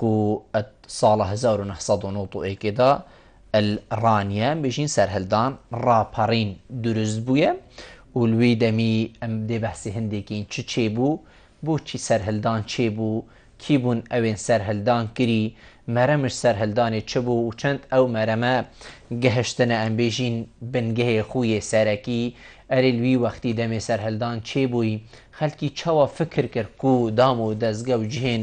قو ئەت ساڵە هەزار و نۆ سەد و نەوەد و یەک ئێدا ال ڕانیان بژین سەرهەلدان ڕاپەڕین دروست بویە و لوی دەمی ئەم دێ بەحسی هەندێکین چ چێ بوو بۆچی سەرهەلدان چێ بوو کی بوون ئەوێن سەرهەلدان کری مەرەمش سەرهەلدانێ چ بوو و چەند ئەو مەرەمە گەهشتنە ئەم بێژین بنگەێ خویێ سەرەکی ئەرێ لوی وەختی دەمێ سەرهەلدان چێ بووی خەلکی چەوە فکر کرد قو دام و دەزگە و جهێن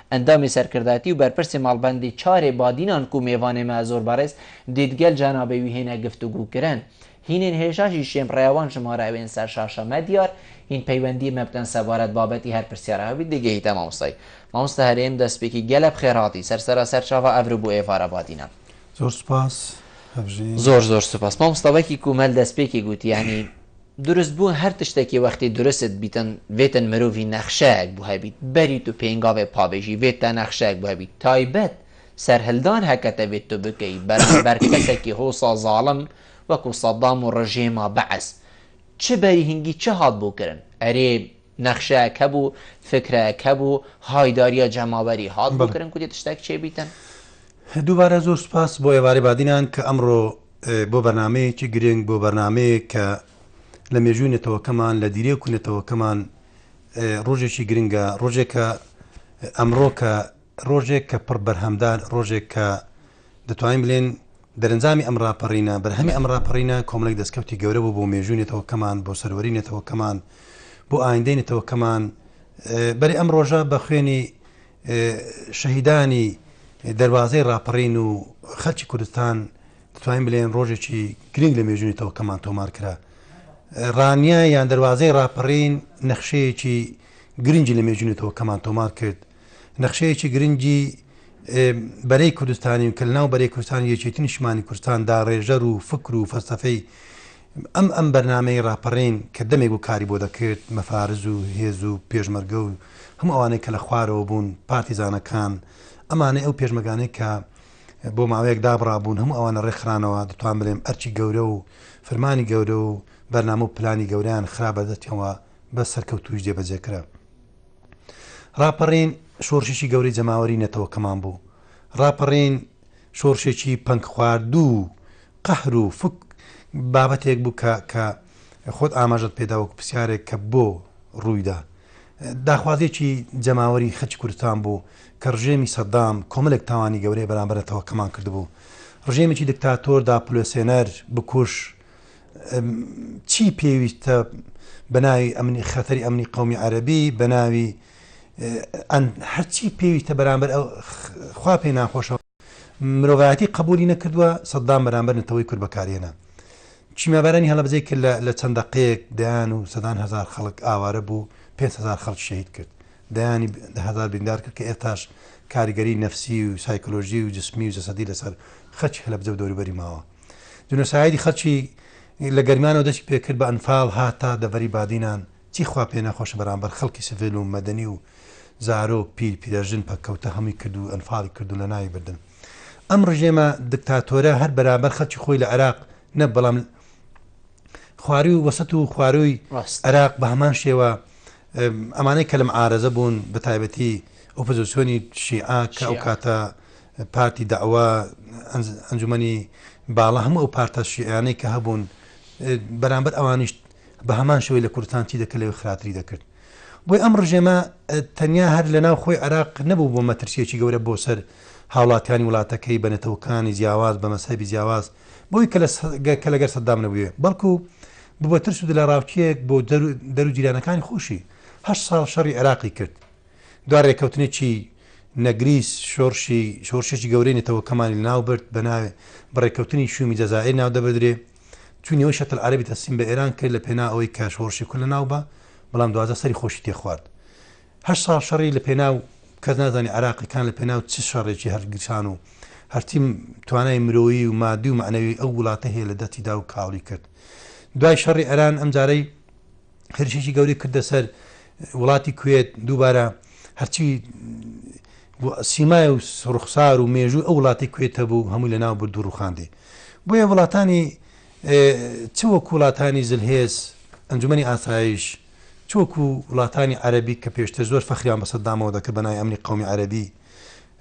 ئەندامی سەرکردایەتی و بەرپرسی مەڵبەندی چارێ بادینان کو مێڤانێ مە زۆر بەڕێز دید گەل جەنابێ وی هێنە گفتوگوو کرن. هینێن هێشاشی شێم ڕێاوان ژمارە ئوێن سەر شاشە مە دیار هین پەیوەندیێ مە بکەن سەبارەت بابەتی هەر پرسیارە هەبی دگەیتە مامۆستای. مامۆستا هەرێم دەسپێکی گەلە بخێر هاتی سەر سەرا سەرچاڤە ئەڤرو بۆ ئێڤارە بادینان. زۆر سوپاس. هەڤژین. زۆر زۆر سوپاس. مامۆستا وەکی کومەل دەسپێکی گووت یانی دورست بوون هەر تشتەکی وەختی دورست بیتن ڤێتن مروڤی نەخشەیەک بو هەبیت بەریت و پێنگاڤێ پابێژی ڤێت تا نەخشەیەک بو هەبیت تایبەت سەرهلدان هەکەتە ڤێت تو بکەی بەرامبەر کەسەکی هوسا زالم وەکو سەدام و رژێما بەعس چ بەریهنگی چ هات بو کرن ئەرێ نەخشەیەک هەبو فکرەیەک هەبو هایداریا جەماوەری هات بو کرن کو دێ تشتەک چێ بیتن. دووبارە زۆر سوپاس بۆ ئێوارەی بادینان کە ئەمڕۆ. بۆ بەرنامەیەکی گرنگ، بۆ بەرنامەیەک کە لە مێژووی نەتەوەکەمان، لە دیرێک و نەتەوەکەمان ڕۆژێکی گرنگە، ڕۆژێک کە ئەمڕۆ کە ڕۆژێک کە پڕ بەرهەمدار، ڕۆژێک کە دەتوانین بلێن دەرەنجامی ئەم ڕاپەڕینە، بەرهەمی ئەم ڕاپەڕینە کۆمەڵێک دەستکەوتی گەورە بوو بۆ مێژووی نەتەوەکەمان، بۆ سەروەری نەتەوەکەمان، بۆ ئایندەی نەتەوەکەمان، بەرێ ئەم ڕۆژە بە خوێنی شەهیدانی دەروازەی ڕاپەڕین و خەلکی کوردستان دەتوانین بلێن ڕۆژێکی گرنگ لە مێژوونی تەوەکەمان تۆمار کرا ڕانیە یان دەروازەی ڕاپەڕین نەخشەیەکی گرنگی لە مێژوونی تەوەکەمان تۆمار کرد نەخشەیەکی گرنگی بەرەی کوردستانی و کە ناو بەرەی کوردستان یەکێتی نیشمانی کوردستان دا ڕێژەر و فکر و فەرسەفەی ئەم ئەم بەرنامەی ڕاپەڕین کە دەمێک بوو کاری بۆ دەکرد، مەفارز و هێز و پێشمەرگە و هەموو ئەوانەی کە لە خوارەوە بوون، پارتیزانەکان، ئەمانەی ئەو پێشمەگانەی کە بۆ ماوەیەک دابڕابوون هەموو ئەوانە ڕێکخرانەوە، دەتوان بلێم ئەرکی گەورە و فرمانی گەورە و بەرنامە و پلانی گەورەیان خرا بەردەستیان و بە سەرکەوتوویش جێبەجێ کرا. ڕاپەڕین شۆڕشێکی گەورەی جەماوەری نەتەوەکەمان بوو. ڕاپەڕین شۆڕشێکی پەنگخواردوو قەهر و فک بابەتێک بوو کە کە خۆت ئاماژەت پێدا وەکو پرسیارێک کە بۆ ڕوویدا. داخوازیەکی جەماوەری خەلکی کوردستان بوو کە ڕژێمی سەدام کۆمەلێک تاوانی گەورەی بەرامبەر نەتەوەکەمان کردبوو. ڕژێمێکی دکتاتۆر داپلۆسێنەر، بکوژ، چی پێویستە بە ناوی ئەمنی خەتەری ئەمنی قەومی عەرەبی بە ناوی هەرچی پێویستە بەرامبەر خوا پێی ناخۆشە. مرۆڤایەتی قەبولی نەکردوە سەدام بەرامبەر نەتەوەی کورد بەکارهێنا چیمابارانی هەڵەبزەی کرد لە چەند دەقەیەک دەیان و سەدان هزار خەڵک ئاوارە بوو 500 خەڵک شەید کرد دەیانی هزار بریندار کرد کە ئێتاش کاریگەری نەفسی و سایکلۆژی و جسمی و جەسەدی لەسەر خەچ هەلەبزە و دەوروبەری ماوە جنۆسایدی خەچی لە گەرمانەوە دەستی پێکرد بە ئەنفال هاتا دەڤەری بادینان چی خوا پێ نەخۆشە بەرامبەر خەڵکی سڤیل و مەدەنی و زارۆک پیل پیرەژن پەککەوتە هەمووی کرد و ئەنفالی کرد و لەناوی بردن ئەم ڕژێمە دکتاتۆرە هەر بەرامبەر خەڵکی خۆی لە عێراق نە بەڵام خواری و وەسەت و خواروی ڕاست عێراق بە هەمان شێوە ئەمانەی کە لەم عارەزە بوون بە تایبەتی ئۆپۆزیسیۆنی شیعە کە ئەو کاتە پارتی داوا ئەنجومی باڵە هەموو ئەو پارتە شیعانەی کە هەبوون بەرامبەر ئەوانیشت بەهەمان شێوەی لە کوردستان چی دەکرد لەوێ خراتری دەکرد بۆی ئەم ڕژێمە تەنیا هەر لە ناو خۆی عراق نەبوو بۆ مەترسیەکی گەورە بۆ سەر هاوڵاتیانی وڵاتەکەی بە نەتەوەکانی جیاواز بە مەسەبی جیاواز بۆی کە لەگەر سەددام نەبووێ بەڵکو ببە ترس و لە ڕاوچەیەک بۆ دەرو جیرانەکانی خۆشی هە ساڵ شەڕی عێراقی کرد دو ڕێککەوتنێکی نەگریس شۆرشی شۆرشێکی گەورەی نەتەوەکەمانی ناو برد بە ناوێ بەڕێککەوتنی شومی جەزائر ناو دەبدرێ چوونیەوەی شەتر عەرەبی تەسلیم بە ئێران کرد لە پێناو ئەوەی کە شۆڕشی کورد لەناو بە، بەڵام دواتر سەری خۆشی تێ خوارد. هەشت ساڵ شەڕی لە پێناو، کەس نازانی عێراقییەکان لە پێناو چ شەڕێکی هەڵگیرسان و هەرچی توانای مرۆیی و ماددی و مەعنەوی ئەو وڵاتە هەیە لە دەستی دا و کاڵی کرد. دوای شەڕی ئێران ئەمجارەی هێرشێکی گەورەی کردە سەر وڵاتی کوێت، دووبارە هەرچی بۆ سیمای و ڕوخسار و مێژووی ئەو وڵاتەی کوێت هەبوو هەمووی لەناو برد و ڕوخاندی بۆیە وڵاتانی چ وەکو وڵاتانی زلهێز ئەنجومەنی ئاسایش چ وەکو وڵاتانی عەرەبی کە پێشتر زۆر فەخریان بە سەدامەوە دەکرد بە ناوی ئەمنی قەومی عەرەبی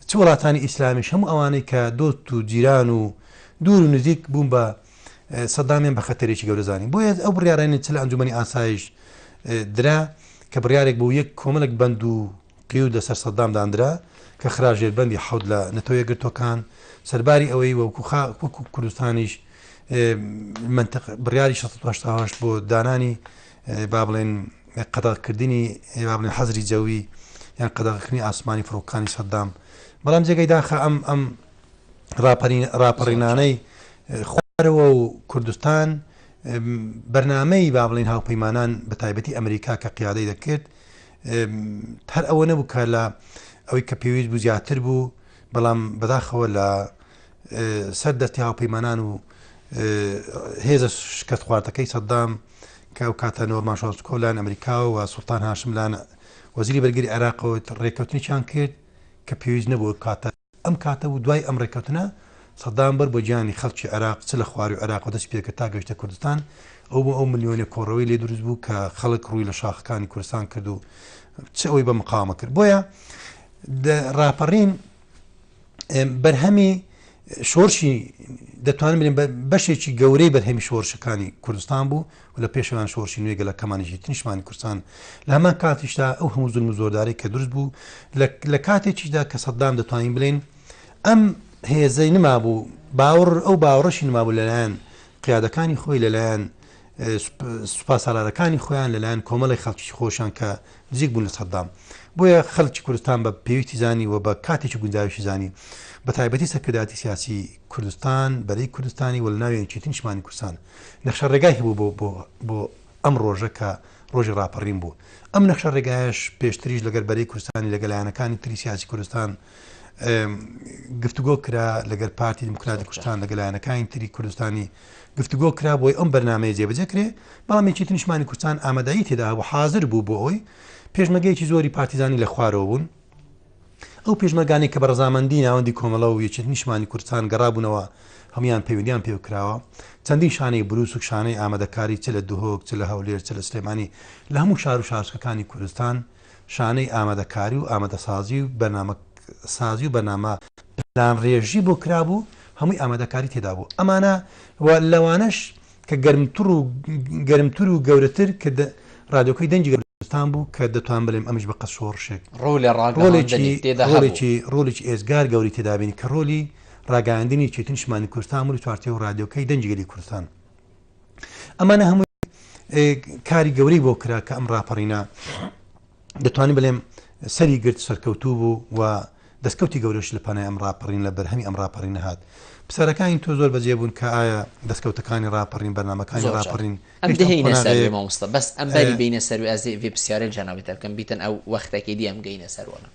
چ وڵاتانی ئیسلامیش هەموو ئەوانەی کە دۆست و جیران و دوور و نزیک بوون بە سەدامیان بە خەتەرێکی گەورەزانی بۆیە ئەو بڕارانی چ لە ئەنجومەنی ئاسایش درا کە بڕارێک بۆ یەک کۆمەڵک بند و قیود لە سەر سەدام داندرا کە خرا ژێر بەندی حەوت لە نەتەوە یەکگرتووەکان، سەرباری ئەوەی وەکو خا وەکو کوردستانیش مەنتق بڕیاری شەست و هەشتا و هەشت بۆ دانانی با بڵێن قەدەغ کردنی با بڵێن حەزری جەوی یان قەدەغ کردنی ئاسمانی فڕۆکەکانی سەدام، بەڵام جێگەی داخە ئەم ئەم ڕاپەرین ڕاپەڕینانەی خوارەوە و کوردستان ئم، بەرنامەی با بڵێن هاوپەیمانان بە تایبەتی ئەمریکا کە قیادەی دەکرد هەر ئەوە نەبوو کە لە ئەوەی کە پێویست بوو زیاتر بوو بەڵام بەداخەوە لە سەر دەستی هاوپەیمانان و هێزە شکست خواردەکەی سەددام کە ئەو کاتە نۆرمان شۆست کۆلان ئەمریکا و سوڵتان هاشملان وەزیری بەرگری عێراقەوە ڕێککەوتنیان کرد کە پێویست نەبوو کاتە ئەم کاتە بوو دوای ئەم ڕێککەوتنە، سەدام بەر بە گیانی خەڵکی عێراق چ لە خواروی عێراقەوە دەستی پێکرد تا گەیشتە کوردستان، ئەو بۆ ئەو ملیۆنە کۆڕەوەی لێ دروست بوو کە خەڵک ڕووی لە شاخەکانی کوردستان کرد و چ ئەوەی بە مقاومە کرد. بۆیە ڕاپەڕین بەرهەمی شۆرشی دەتوانم بلێم بەشێکی گەورەی بەرهەمی شۆرشەکانی کوردستان بوو، و لە پێشەوەیان شۆڕشی نوێی گەلەکەمانیش هیچ نیشتمانی کوردستان لە هەمان کاتیشدا ئەو هەموو زولم و زۆردارەی کە دروست بوو لە کاتێکیشدا کە سەددام دەتوانین بڵێن ئەم هێزەی نمابوو باوەڕ ئەو باوەڕەشی نمابوو لەلایەن قیادەکانی خۆی لەلایەن سوپا سالارەکانی خۆیان لەلایەن کۆمەڵی خەڵکی خۆشان کە نزیک بوون لە سەددام بۆیە خەڵکی کوردستان بە پێویستی زانی و بە کاتێکی گونجاویشی زانی بە تایبەتی سەرکرداتی سیاسی کوردستان بەرەی کوردستانی وەلناویان چیتنشمانی کوردستان نەخشە ڕێگای هەبوو بۆ بۆ ئەم ڕۆژە کە ڕۆژی ڕاپەڕین بوو. ئەم نەخشە ڕێگایەش پێشتریش لەگەل بەرەی کوردستانی لەگەل لایەنەکانی تری سیاسی کوردستان گفتوگۆ کرا لەگەر پارتی دیموکراتی کوردستان لەگەل لایەنەکانی تری کوردستانی گفتوگۆ کرا بۆی ئەم بەرنمەیە جێبەجێ کرێ بەڵام یەکێتی نیشمانی کوردستان ئامادەایی تێدا و حاضر بوو بۆ ئەوی پێشمەگەیەکی زۆری پارتیزانی لە خوارەوە بوون ئەو پێشمەرگانەی کە بە ڕەزامەندی ناوەندی کۆمەڵە و یەکێتی نیشتمانی کوردستان گەڕابوونەوە هەموویان پەیوەندییان پێوە کراوە. چەندین شانەی برووس و شانەی ئامادەکاری چ لە دهۆک، چ لە هەولێر، چ لە سلێمانی لە هەموو شار و شارۆچکەکانی کوردستان شانەی ئامادەکاری و ئامادەسازی و بەرنامە سازی و بەرنامە پلانڕێژی بۆ کرابوو هەمووی ئامادەکاری تێدا بوو ئەمانە و لەوانەش کە گەرمتر و گەرمتر و گەورەتر کە ڕادیۆکەی دەنگی گەل کوردستان بوو کە دەتوان بڵێم ئەمیش بە قەد شۆڕشێک ڕۆڵ لە ڕاگەیاندنی ڕۆڵێکی تێدا هەبوو. ڕۆڵێکی ڕۆڵێکی ئێجگار گەوری تێدا بینی کە ڕۆلی ڕاگەیاندنی چێتی نیشتمانی کوردستان بوو لە چوارچێوەی ڕادیۆکەی دەنگی گەلی کوردستان ئەمانە هەمووی ئێ کاری گەورەی بۆ کرا کە ئەم ڕاپەڕینە دەتوانین بڵێم سەری گرت سەرکەوتوو بوو و دەستکەوتی گەورەش لە پەنای ئەم ڕاپەڕین لە بەرهەمی ئەم ڕاپەڕین نەهات پرسیارەکانی تۆ زۆر بەجێ بوون کە ئایا دەستکەوتەکانی ڕاپەڕین بەرنمەکانی ڕاپەڕین مامۆستا بەس ئەم بەری بینە سەروی ئازێ ڤێ پرسیارە جاناوی تەکەم بیتن ئەو وەختەکەی دیام گەینە سەروەە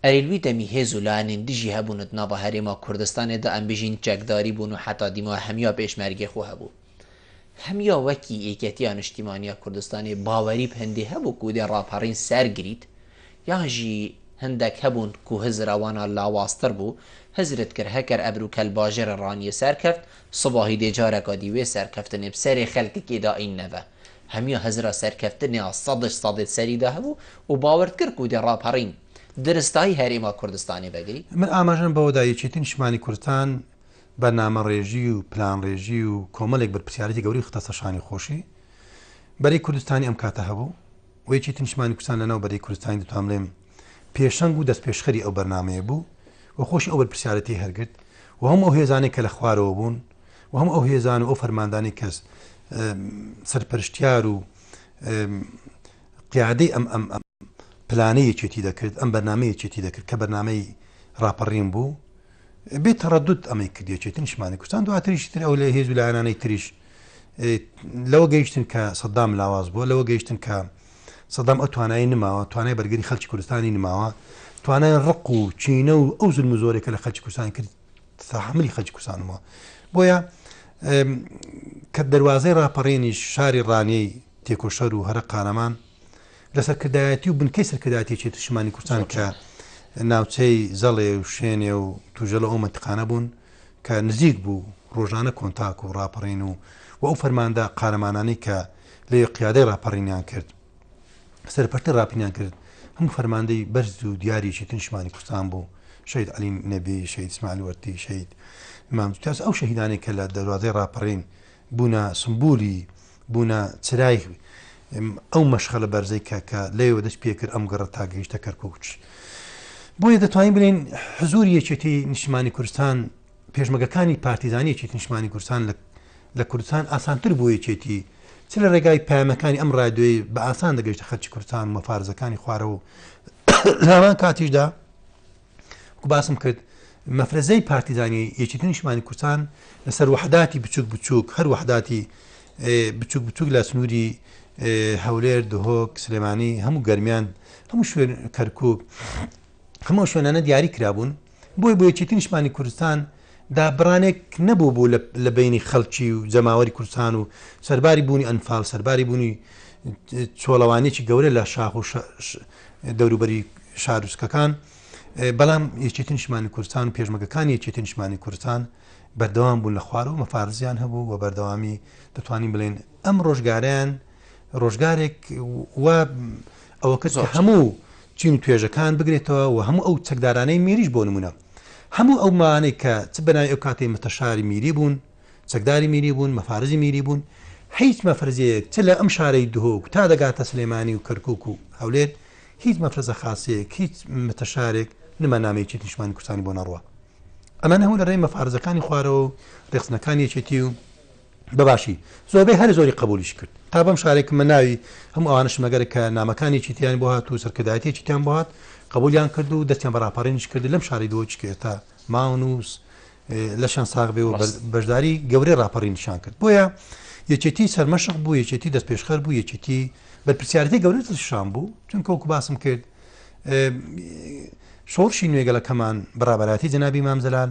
ئەریلوی دەمی هێز و لانین دژی هەبوونت ناوە هەرێما کوردستانێدا ئەم بژین چەکداری بوون و حتا دیمە هەمیا پێشمەرگێ خۆ هەبوو هەمیا وەکی یەکێتیا نیشتیمانیا کوردستانی باوەریب هەندێ هەبوو کو دێ ڕاپەڕین سەر گریت یانژی هەندەک هەبوون کو هزر ئەوانە لاوازتر بوو، هزرت کرد هەکەر ئەبر و کەل باژێرە ڕانیێ سەر کەفت، سباهی دێ جارەکا دیوێ سەرکەفتنێب سەرێ خەلکەکێ دا ئین نەڤە. هەمیا هزرا سەرکەفتنێا سەدش سەدێت سەری دا هەبوو و باوەرت کرد کو دێ ڕاپەڕین درستایی هەرێما کوردستانێ ڤەگری؟ من ئاماژەم بەوە دا یەکێتی نیشتیمانی کوردستان بەرنامەڕێژی و پلانڕێژی و کۆمەلێک بەرپرسیارێتی گەورەی خستەسەر شانی خۆشی بەرەی کوردستانی ئەم کاتە هەبوو و یەکێتی نیشتمانی کوردستان لەناو بەرەی کوردستانی دەتوان بلێم پێشەنگ و دەستپێشخەری ئەو بەرنامەیە بوو و خۆشی ئەو بەرپرسیارێتی هەرگرت و هەموو ئەو هێزانەی کە لە خوارەوە بوون و هەموو ئەو هێزان و ئەو فەرماندانی کەس سەرپەرشتیار و قیادەی ئەم ئەم پلانەیەکێتی دەکرد ئەم بەرنمەیەکێتی دەکرد کە بەرنمەی ڕاپەڕین بوو بێ تەڕەدود ئەمەی کردێ چێتنیشمانی کوردستان دواتریشی تر ئەو لە هێز و لایەنانەی تریش لەوە گەیشتن کە سەدام لاواز بووە لەوە گەیشتن کە سەدام ئەو توانایی نماوە توانای بەرگری خەلکی کوردستانی نماوە توانای ڕق و چینە و ئەو زلم زۆرێکە لە خەلکی کوردستان کرد تحملی خەلکی کوردستانەوە بۆیە کە دەواازەی راپەڕێنی شاری ڕانیەی تێکۆشەر و هەرە قارەمان لە سەرکردایەتی و بنکەی سەرکردایەتی چێت شمانی کوردستان کە ناوچەی زەڵێ و شوێنێ و توژەڵە ئەو منتقانە بوون کە نزیک بوو ڕۆژانە کۆنتاک و ڕاپەڕین و و ئەو فەرماندا قارەمانانی کە لێ قیادەی ڕاپەڕینیان کرد سەرپەرتە ڕاپینیان کرد هەم فەرماندەی بەرز و دیاری چێتن شمانی کوردستان بوو شید علی نەبی شید سمال وەرتی شید مامتاس ئەو شەهیدانی کە لە دەروازەی ڕاپەڕین بوونە سمبولی، بوونە چرای ئەو مەشخەلە بەرزەی کە کە لەوێوە دەست پێکرد ئەم گەڕە تا گەیشتە کەرکووک. بۆیە دەتوانین بڵێین حزووری یەکێتی نیشتمانی کوردستان، پێشمەگەکانی پارتیزانی یەکێتی نیشتمانی کوردستان لە لە کوردستان ئاسانتر بوو یەکێتی چ لە ڕێگای پەیامەکانی ئەم ڕادیۆی بە ئاسان دەگەیشتە خەرکی کوردستان و مەفارزەکانی خوارەوە لە هەمان کاتیشدا وەکو باسم کرد مەفرەزەی پارتیزانی یەکێتی نیشمانی کوردستان لەسەر وحداتی بچوک بچوک هەر وحداتی بچوک بچوک لە سنووری هەولێر دهۆک سلێمانی هەموو گەرمیان هەموو شوێن کەرکک هەموو شوێنانە دیاری کرابوون بۆی بۆ یەکێتی نیشمانی کوردستان دابڕانێک نەبوو بوو لە بینی خەڵکی و جەماوەری کوردستان و سەرباری بوونی ئەنفال سەرباری بوونی چۆڵەوانێکی گەورە لە شاخ و دەوروبەری شاروچکەکان بەڵام یەکێتی نیشمانی کوردستان و پێشمەگەکانی یەکێتی نیشمانی کوردستان بەردەوام بوون لە خوارەوە مەفارزیان هەبوو و بەردەوامی دەتوانین بڵێن ئەم ڕۆژگاریان ڕۆژگارێک و ئەوە کەس هەموو چین و توێژەکان بگرێتەوە و هەموو ئەو چەکدارانەی میریش بۆ نمونە هەموو ئەو مانەی کە چ بەناوی ئەو کاتی متەشاری میری بوون چەکداری میری بوون، مەفارزی میری بوون، هیچ مەفرزەیەک چ لە ئەم شارەی دهۆک تا دەگاتە سلێمانی و کەرکک و هەولێر هیچ مەفرزە خاصەیەک هیچ متەشارێک نمانامەیەکی نیشمانی کوردستانی بۆ نەڕوە ئەمە نەهوو لە ڕێی مەفارزەکانی خوارەوە و ڕێخستنەکانی یەکێتی و بەباشی زۆربەی هەر زۆری قبولیش کرد تا بەم شارێک من ناوی هەم ئەوانش مەگەر کە نامەکانی چیتیان بۆ هات و سەرکردایەتێکیان بۆ هات قبولیان کرد و دەستیان بەڕاپەڕێنش کرد لەم شاری دۆچکێتا ماونووس لەشان ساغبێ و بەشداری گەورەی ڕاپەڕین نیشان کرد بۆیە یەکێتی سەرمەشق بوو یەکێتی دەست پێشخەر بوو یەکێتی بەرپسیارەتی گەورە شان بوو چونکە وەکو باسم کرد شۆڕشی نوێگەلەکەمان بەڕابەراتی جەنابی مامزلال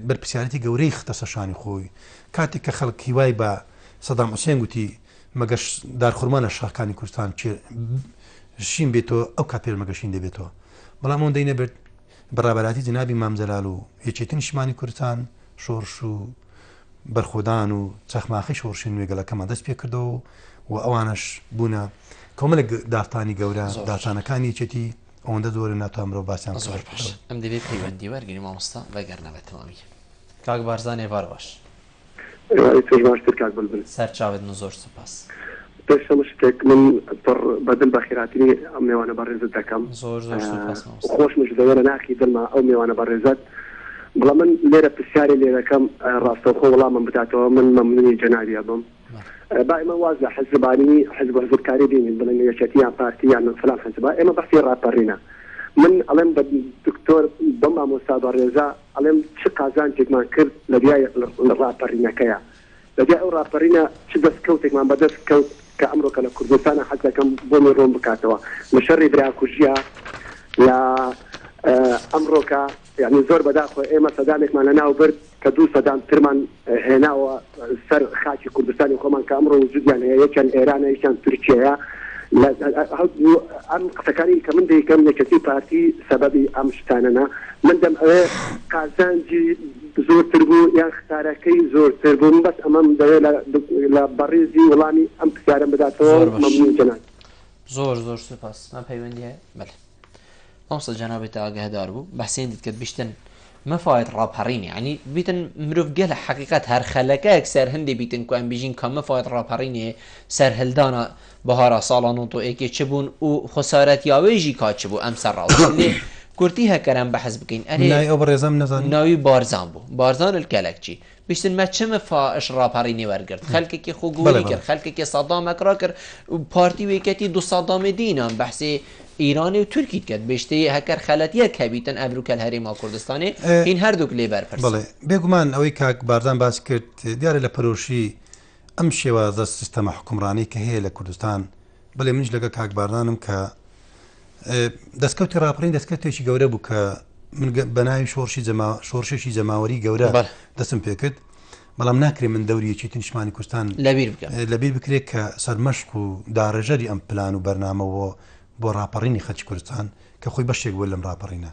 بەرپسیارەتی گەورەی خستەسە شانی خۆی کاتێک کە خەڵکی وای بە سەدام حوسێن گوتی مەگەش دارخورمان لە شاکانی کوردستان شین بێتەوە ئەو کات پێرمەگەشین دەبێتەوە بەڵام ئەوەندەی نەبێت بە ڕابەراتی جەنابی مام جەلال و یەکێتی نیشتمانی کوردستان شۆڕش و بەرخۆدان و چەخماخی شۆڕشی نوێ گەلەکەمان دەست پێ کردەوە و ئەوانش بوونە کۆمەلێک داستانی گەورە زۆر. داستانەکانی یەکێتی ئەوەندە زۆرە ناتوان مرۆڤ باسیان بکات. زۆر باش ئەم دەبێ پەیوەندی وەرگری مامۆستا بەگەرنە بەتەواوی کاک بارزان ێڤارواش. ئیترش باشتر کاک بلبل. سەرچاوت من زۆر سوپاس. پێش هەموو شتێک من پڕ بە دل بەخیراتری ئەم مێوانە بەڕێزت دەکەم زۆر زۆر سوپاس مامۆستا. خۆشمش دەوێ لە ناخی دڵما ئەو مێوانە بەڕێزەت بڵام من لێرە پرسیارێ لێ دەکەم ڕاستەوخۆ وڵامم بداتەوە من مەمنونی جەنابی ئەبم با ئێمە واز لە حزبانی حزب و حزبکاری بینین بڵێن یەکێتی یان پارتی یان فلان حزبە ئێمە بەحسی ڕاپەڕینە من ئەڵێم بە دکتۆر بەم مامۆستا بەڕێزە ئەڵێم چ قازانجێکمان کرد لە دوای ڕاپەرینەکەیا، لە دوای ئەو ڕاپەرینە چ دەست کەوتێکمان بە دەست کەوت کە ئەمڕۆکە لە کوردستانا حەز دەکەم بۆمی ڕوون بکاتەوە لە شەڕی براکوژیا لە ئەمڕۆکە یانی زۆر بەداخۆ ئێمە سەدامێکمان لە ناو برد کە دوو سەدام ترمان هێناوە سەر خاکی کوردستانی خۆمان کە ئەمڕۆ وجودیان هەیە یەکیان ئێرانە یەکیان تورکیەیە ئەم قسەکانی کە من دەیکەم یەکەتی پارتی سەبەبی ئەم شتانەنا من دەم ئەوێ قازانجی زۆرتر بوو یان خسارەکەی زۆرتر بووم بەس ئەمەم دەوێت لە بەڕێزی وڵامی ئەم پرسیارم بداتەوە مەمنون جەناب زۆر زۆر سوپاس من پەیوەندی هەیە بەلێ مامۆستا جەنابت تا ئاگەهدار بوو بەحسێن دیت کرد بیشتن مەفاێت ڕاپەڕینی ینی بیتن مرۆڤ گەل لە حقیقت هەر خەلەکەیەک سەر هەندێ بیتن کوان بژین کە مەفاێت ڕاپەڕینێ سەرهلدانە بەهارا ساڵا نۆتۆ ئێکێ چ بوون و خسارەت یاوێژی کات چ بوو ئەم سەر ڕاو کورتی هەکەرم بەحس بکەین ئەرێ ناوی ئەو بەڕێزەم نەزانی ناوی بارزان بوو بارزان الکەلەکچی بیستن مە چ مە فا ئش ڕاپەڕینی وەرگرت خەلکەکی خو گووری کرد خەلکەکی سەدا مە کرا کرد پارتی ویکەتی دو سەدا مە دینان بەحسی ئیرانی و تورکیت کرد بیشتی هەکەر خەلەت یە کە بیتن ئەبرو کەل هەرێ ما کوردستانی هین هەر دوک لێ بەر پرسن. بێگومان ئەوەی کاک بارزان باس کرد دیارە لە پەرۆشی ئەم شێوازە سیستەمە حکومڕانی کە هەیە لە کوردستان بەێ منش لەگە کاک باردانم کە دەستکەوتی راپەڕین دەستکەوتێکی گەورە بوو کە من بە ناوی شۆڕشی شۆڕشێکی جەماوەری گەورە دەستم پێکرد بەڵام ناکرێ من دەوریەکی تنشمانی کوردستان لەبیر لەبیر بکرێت کە سەرمەشق و داڕێژەری ئەم پلان و بەرنامەوە بۆ راپەڕینی خەچ کوردستان کە خۆی بەشێک بوو لەم راپەڕینە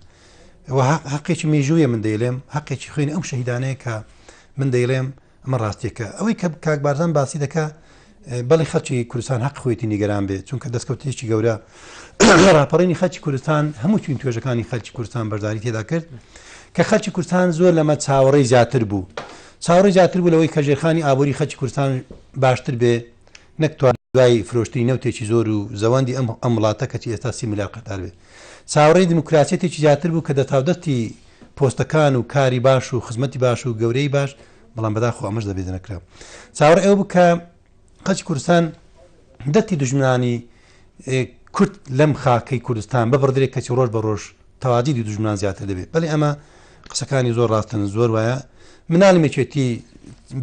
حقێکی مێژوویە من دەیلێم حقێکی خوێنی ئەم شەهیدانەیە کە من دەیڵێم ئەمە ڕاستیەکە ئەوەی کە کاک بارزان باسی دەکا بەڵی خەچی کوردستان حەق خۆیتی نیگەران بێت چونکە دەستکەوتێکی گەورە ڕاپەڕینی خەچی کوردستان هەموو چین توێژەکانی خەلکی کوردستان بەرداری تێدا کرد کە خەلکی کوردستان زۆر لەمە چاوەڕێی زیاتر بوو چاوەڕێ زیاتر بوو لەوەی کەژێرخانی ئابووری خەلکی کوردستان باشتر بێ نەکتوان دوای فرۆشتنی نەوتێکی زۆر و زەوەندی ئەم ئەم وڵاتە کەچی ئێستا سی ملیار قەدار بێت چاوەڕێی دیموکراسیەتێکی زیاتر بوو کە دەتاودەستی پۆستەکان و کاری باش و خزمەتی باش و گەورەی باش بەڵام بەداخۆ ئەمەش دەبێت دەنەکرا چاوەڕێ ئەو بکە قەچی کوردستان دەتی دژمنانی کورد لەم خاکەی کوردستان ببڕدرێت کەچی ڕۆژ بە ڕۆژ تەواجی دی دژمان زیاتر دەبێت بەێ ئەمە قسەکانی زۆر ڕاستن زۆر وایە منال مێچێتی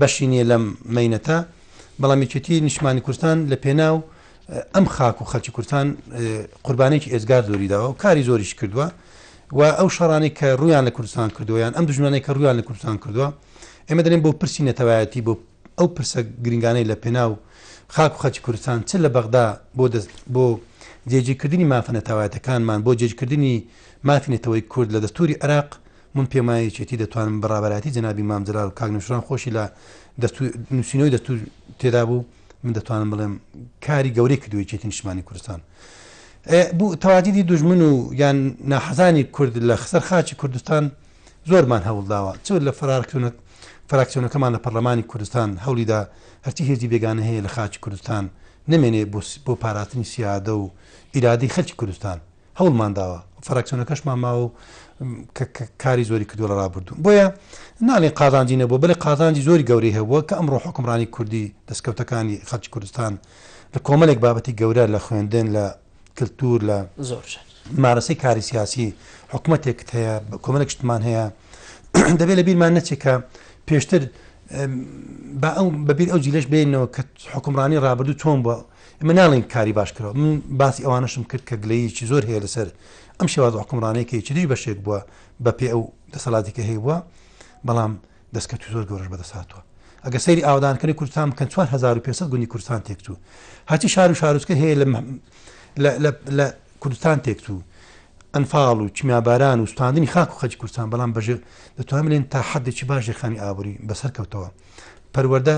بەشی نییە لەم مینەتە بەڵام یەکێتی نیشمانی کوردستان لە پێناو ئەم خاک و خەلکی کوردستان قوربانێکی ئێزگار زۆری داوە و کاری زۆریش کردووە و ئەو شەڕانەی کە ڕوویان لە کوردستان کردووە یان ئەم دوژمنانەی کە ڕوویان لە کوردستان کردووە ئێمە دەێن بۆ پرسی نەتەوایەتی بۆ ئەو پرسە گرنگانەی لە پێناو خاک و خەچی کوردستان چ لە بەغدا بۆ دەست بۆ جێجیکردنی مافە نەتەوایەتەکانمان بۆ جێجکردنی مافی نەتەوەی کورد لە دەستوری عراق من پێمایەکێتی دەتوانم بەڕابەتی جنابی مامجلال و کاک نوشران خۆشی لە نووسینەوەی دەستور تێدا بوو من دەتوانم بڵێم کاری گەورەی کردو یەکێتی نیشتمانی کوردستان بوو تەواجدی دژمن و یان ناحەزانی کورد لە خسەر خاچی کوردستان زۆرمان هەوڵداوە چ لە فراکتونە فراکسیۆنەکەمان لە پەرلەمانی کوردستان هەوڵیدا هەرچی هێزی بێگانە هەیە لە خاچی کوردستان نمێنێ بۆ پاراتنی سیادە و ئیرادی خەلکی کوردستان هەوڵمان داوە فراکسیۆنەکەشمان ماوە و کاری زۆری کردووە لە ڕابردوو بۆیە ناڵێن قازانجی نەبوو بەڵێ قازانجی زۆری گەورەی هەبووە کە ئەمڕۆ حکمڕانی کوردی دەستکەوتەکانی خەڵکی کوردستان لە کۆمەلێک بابەتی گەورە لە خوێندن لە کللتور لە زۆر مارەسەی کاری سیاسی حکوومەتێکت هەیە کۆمەلێک شتمان هەیە دەبێت لە بیرمان نەچێکە پێشتر بە ئەو بەبییر ئەو جیلش بێنەوە کە حکمڕانی ڕابردوو چۆن بووە ئێمە ناڵێین کاری باش کراوە من باسی ئەوانەشم کرد کە گلەیەکی زۆر هەیە لەسەر ئەم شێواز حکومڕانەیە کە چدی بەشێک بووە بە پێ ئەو دەسەڵاتی کە هەیە بووە بەڵام دەستکەوتی زۆر گەورەش بەدەساتوە ئەگە سەیری ئاودانکردنی کوردستان بکەن 4500 گونی کوردستان تێکچوو هەچی شار و شارۆچکە هەیە لە کوردستان تێکچوو ئەنفاڵ و چمیاباران و ستاندنی خاک و خەج کوردستان بەڵام بەژێ دەتوانێن تا حدێکی باش ژێخانی ئابووری بەسەر کەوتەوە پەروەەردە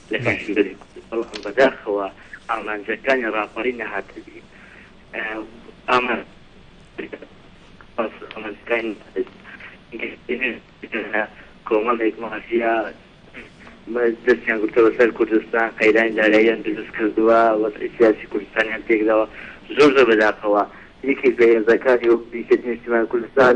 لە پێشنگەری کورد، بەڵام بەداخەوە ئامانجەکانی ڕاپەڕین نەهاتە دی. کۆمەڵێک مافیا دەستیان گرتووە سەر کوردستان، قەیرانی داراییان دروست کردووە، وەزعی سیاسی کوردستانیان تێکداوە. زۆر زۆر بەداخەوە یەکێک لە هێزەکانی وەکو یەکێتی نیشتیمانی کوردستان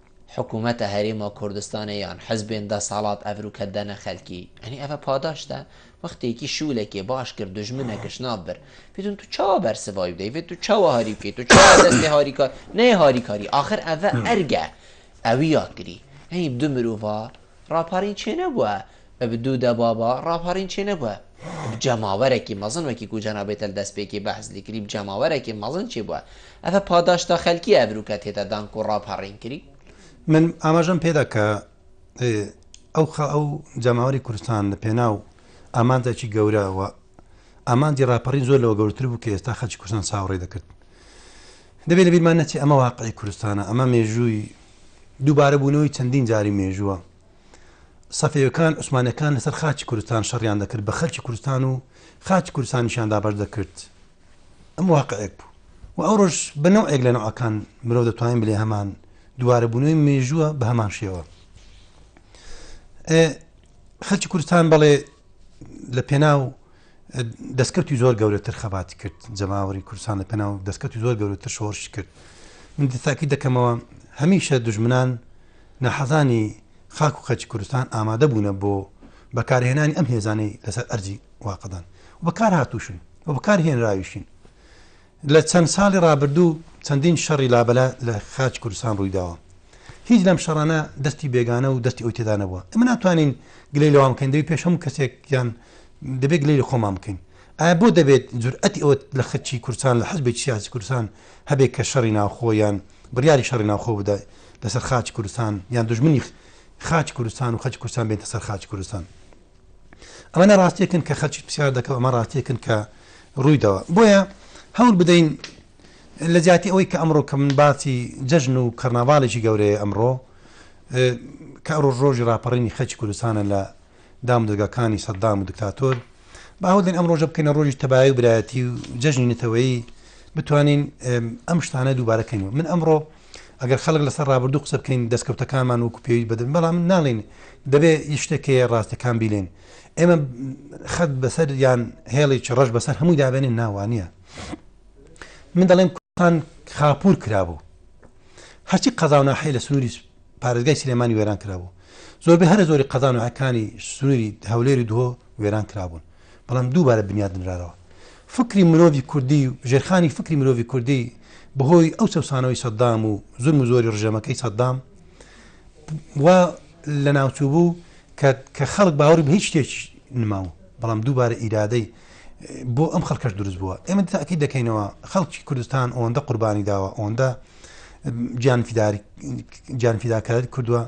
حکومەتە هەرێمە کوردستانە یان حزبێن دەسەڵات ئەڤروکە دەنە خەلکی ئەنی ئەڤە پاداشتە وەختێکی شولەکێ باش کرد دوژمنە گشناب بر پیتون تو چاوە بەرسڤایی بدەیڤێت تو چاوە هاری بکەیت تو چاوە دەستێ هاریکار نەیە هاریکاری ئاخر ئەڤە ئەرگە ئەویا کری ئەنی دو مروڤا ڕاپەڕین چێ نەبوە ب دوو دە بابا ڕاپەڕین چێ نەبوە ب جەماوەرەکی مەزن وەکی کو جەناب بێتەل دەس پێکی بەحس لی کری ب جەماوەرەکی مەزن چێ بوە ئەڤە پاداشتە خەلکی ئەڤرو کە تێتە دان کو ڕاپەڕین کری. من ئاماژەم پێدا کە ئەو خە ئەو جەماوەری کوردستان لە پێناو ئامانجێکی گەورە و ئامانجی ڕاپەڕین زۆر لەوە گەورتر بوو کە ئێستا خەلکی کوردستان چاوەڕێ دەکرد دەبێت لە بیرمان نەچێ ئەمە واقعی کوردستانە ئەمە مێژووی دووبارەبوونەوەی چەندین جاری مێژووە، سەفەویەکان، عوسمانیەکان لەسەر خاکی کوردستان شەڕیان دەکرد بە خەلکی کوردستان و خاکی کوردستانیشیان دابەش دەکرد ئەمە واقعێک بوو و ئەوڕۆژ بە نەوعێک لە نەوەکان مرۆڤ دەتوانین بلێ هەمان دووارەبوونەوەی مێژووە بە هەمان شێوە خەلکی کوردستان بەڵێ لە پێناو دەستکەوتی زۆر گەورەتر خەباتی کرد جەماوەری کوردستان لە پێناو دەستکەوتی زۆر گەورەتر شۆڕشی کرد من دەتاکی دەکەمەوە هەمیشە دژمنان نەحەزانی خاک و خەچی کوردستان ئامادە بوونە بۆ بەکارهێنانی ئەم هێزانەی لەسەر ئەرزی واقعدان بەکار هاتوشن و بەکار هێنراویشین لە چەند ساڵی ڕابردوو چەندین شەڕی لابەلا لە خاچی کوردستان ڕوویداوە، هیچ لەم شەڕانە دەستی بێگانە و دەستی ئەو تێدا نەبووە، ئێمە ناتوانین گلەی لەوان بکەین، دەبێت پێش هەموو کەسێک یان دەبێت گلەی لە خۆمان بکەین، ئایا بۆ دەبێت جورئەتی ئەوە لە خچی کوردستان لە حزبێکی سیاسی کوردستان هەبێت کە شەڕی ناوخۆ یان بڕیاری شەڕی ناوخۆ بدا لەسەر خاچی کوردستان یان دوژمنی خاچی کوردستان و خەلکی کوردستان بێنتە سەر خاچی کوردستان؟ ئەمانە ڕاستیەکن کە خەلکی پرسیار دەکە و ئەمە ڕاستیەکن کە ڕوویدەوە بۆیە هەوڵ بدەین لە جیاتی ئەوەی کە ئەمڕۆ کە من باسی جەژن و کەرناڤالێکی گەورەیە ئەمڕۆ کە ڕۆژ ڕۆژی ڕاپەڕینی خەلکی کوردستانە لە دامودەگەکانی سەددام و دکتاتۆر باهودن ئەم ڕۆژە بکەینە ڕۆژی تەبای و برایەتی و جەژنی نەتەوەی بتوانین ئەم شتانە دووبارەکەین من ئەمڕۆ ئەگەر خەڵک لەسەر ڕابردوو قسە بکەین دەستکەوتەکانمان وەکو پێویست بەدەن بەڵام ناڵین دەبێ یشتێکەیە ڕاستەکان بیلێن ئێمە خەت بەسەر یان هێڵێکی ڕەش بەسەر هەمووی دابێنین ناوانە من دەڵێم کوردستان خاپور کرابوو هەرچی قەزاوناحی لە سنووری پارێزگای سلێمانی وێران کرابوو زۆربەی هەرە زۆری قەزانەکانی سنووری هەولێری دوۆ وێران کرابوون بەڵام دووبارە بنیات نراوە. فکری مرۆڤی کوردی و ژێرخانی فکری مرۆڤی کوردی بەهۆی ئەو چەوسانەوەی سەدام و زولم و زۆری ڕژێمەکەی سەدام وا لە ناوچوو بوو کە خەڵک باوەڕی بە هیچ شتێکی نماوە بەڵام دووبارە ئیرادەی بۆ ئەم خەڵکەش دروست بووە ئێمە تاکی دەکەینەوە خەڵکی کوردستان ئەوەندە قوربانی داوە ئەوەندە جانفیداری جانفیداکاری کردووە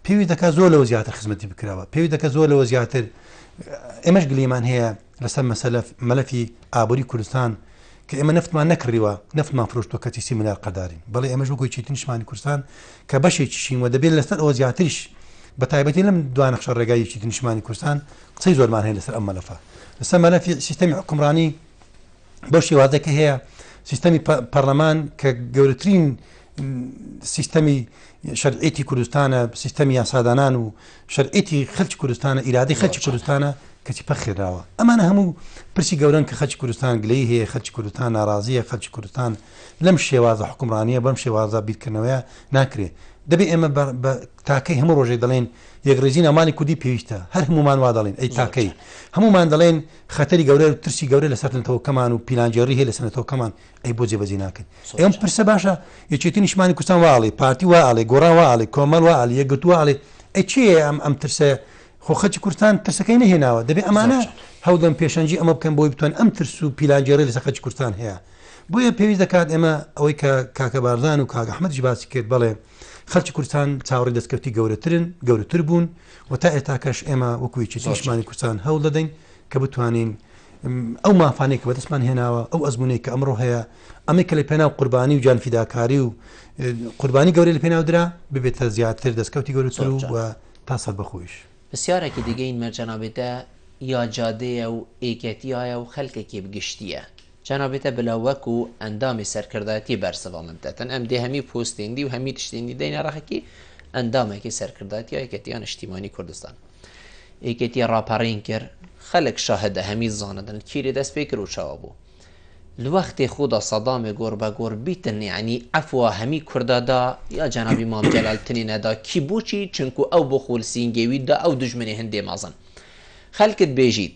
پێویست دەکات زۆر لەوە زیاتر خزمەتی بکرەوە پێویست دەکە زۆر لەوە زیاتر ئێمەش گلیمان هەیە لەسەر مەسەلە مەلەفی ئابووری کوردستان کە ئێمە نفتمان نەکڕیوە نفتمان فرۆشتۆ کەچی سی منار قەدارین بەڵێ ئێمەش وەگوی چیتن شمانی کوردستان کە بەشێکیشین و دەبێت لەسەر ئەوە زیاتریش بە تایبەتی لەم دوانەخشە ڕێگاییکی نیشمانی کوردستان قسەی زۆرمان هەیە لەسەر ئەم مەلەفە لەسەر مەلەفی سیستەمی حکومڕانی بەو شێوازەکە هەیە سیستەمی پەرلەمان کە گەورەترین سیستەمی شەرعێتی کوردستانە سیستەمی یاسادانان و شەرعێتی خەلکی کوردستانە ئیرادی خەلکی کوردستانە کەچی پەخێراوە ئەمانە هەموو پرسی گەورن کە خەلکی کوردستان گلەی هەیە خەلکی کوردستان ناڕازیە خەلکی کوردستان لەم شێوازە حکومڕانیە بەم شێوازە بیرکردنەوەە ناکرێت دەبێ ئێمە تاکەی هەموو ڕۆژێک دەڵێن یەکڕیزی ناوماڵی کوردی پێویستە، هەر هەموومان وا دەڵێن، ئەی تاکەی هەموومان دەڵێن خەتەری گەورە و ترسی گەورە لەسەر نەتەوەکەمان و پیلانگێڕی هەیە لەسەر نەتەوەکەمان، ئەی بۆ جێبەجێ ناکەن؟ ئێمە پرسە باشە یەکێتی نیشتمانی کوردستان وا ئەڵێ، پارتی وا ئەڵێ، گۆڕان وا ئەڵێ، کۆمەڵ وا ئەڵێ، یەکگرتوو وا ئەڵێ، ئەی چییە ئەم ئەم ترسە؟ خۆ خەڵکی کوردستان ترسەکەی نەهێناوە، دەبێ ئەمانە هەوڵدەن پێشەنگی ئەمە بکەن بۆی بتوانن ئەم ترس و پیلانگێڕی لەسەر خەڵکی کوردستان هەیە، بۆیە پێویست دەکات ئێمە ئەوەی کە کاکە بارزان و کاک ئەحمەدیش باسی کرد بەڵێ، خەڵکی کوردستان چاوەڕێی دەستکەوتی گەورەترن، گەورەتر بوون و تا ئێتاکەش ئێمە وەکو یەکێتی نیشتمانی کوردستان هەوڵ دەدەین کە بتوانین ئەو مافانەی کە بەدەستمان هێناوە ئەو ئەزمونەی کە ئەمڕۆ هەیە ئەمەی کە لە پێناو قوربانی و جانفیداکاری و قوربانی گەورەی لە پێناودرا ببێتە زیاتر دەستکەوتی گەورەتر و و تا سەر بەخۆیش پرسیارێکی دیگەین مەرجەنابێتە یا جادەیە و ئێکەتیایە و خەلکەکێ بگشتیە؟ چەنابیتە بلا وەک و ئەندامی سەرکردایەتی بەرسڤ و مدەتن ئەم دێ هەمی پوستێندی و هەمی تشتێندی دەینە رەخەکی ئەندامەکی سەرکردایەتی یەکێتیا نیشتیمانی کوردستان. یەکێتی راپەڕین کرد، خەلک شاهدە هەمی زانەدن کیرێ دەس پێ کرد و چاوە بوو. لە وەختێ خودا سەدامێ گۆر بە گۆر بیتن یەعنی عەفوا هەمی کوردا دا یا جەنابی مام جەلال تنێ نەدا کی بوچی چونکوو ئەو بۆ خول سینگێوی دا ئەو دوژمنێ هندێ مەزن خەلکت بێژیت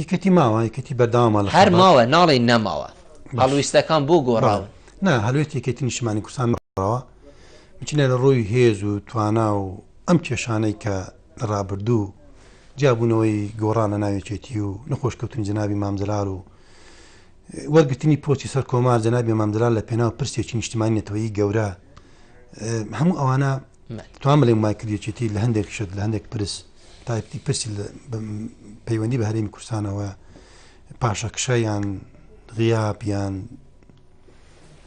یەکێتی ماوە یەکێتی بەردەوامە لە هەر ماوە ناڵێین نەماوە هەڵویستەکان بۆ گۆڕاون نا هەلوێت یەکێتی نیشتمانی کوردستان مەڕەوە بچینە لە ڕووی هێز و توانا و ئەم کێشانەی کە لە ڕابردوو جیابوونەوەی گۆڕان لە ناوێکێتی و نەخۆشکەوتن جنابی مامجلال و وەرگتنی پۆچی سەر کۆمار جنابی مامجلال لە پێناو پرسێکی نیشتمانی نەتەوەی گەورە هەموو ئەوانە توام بلیم وای کرد یەکێتی لە هەندێک شت لە هەندێک پرس تایپتی پرسی پەیوەندی بە هەرێمی کوردستانەوە پاشەکشەیان غیابیان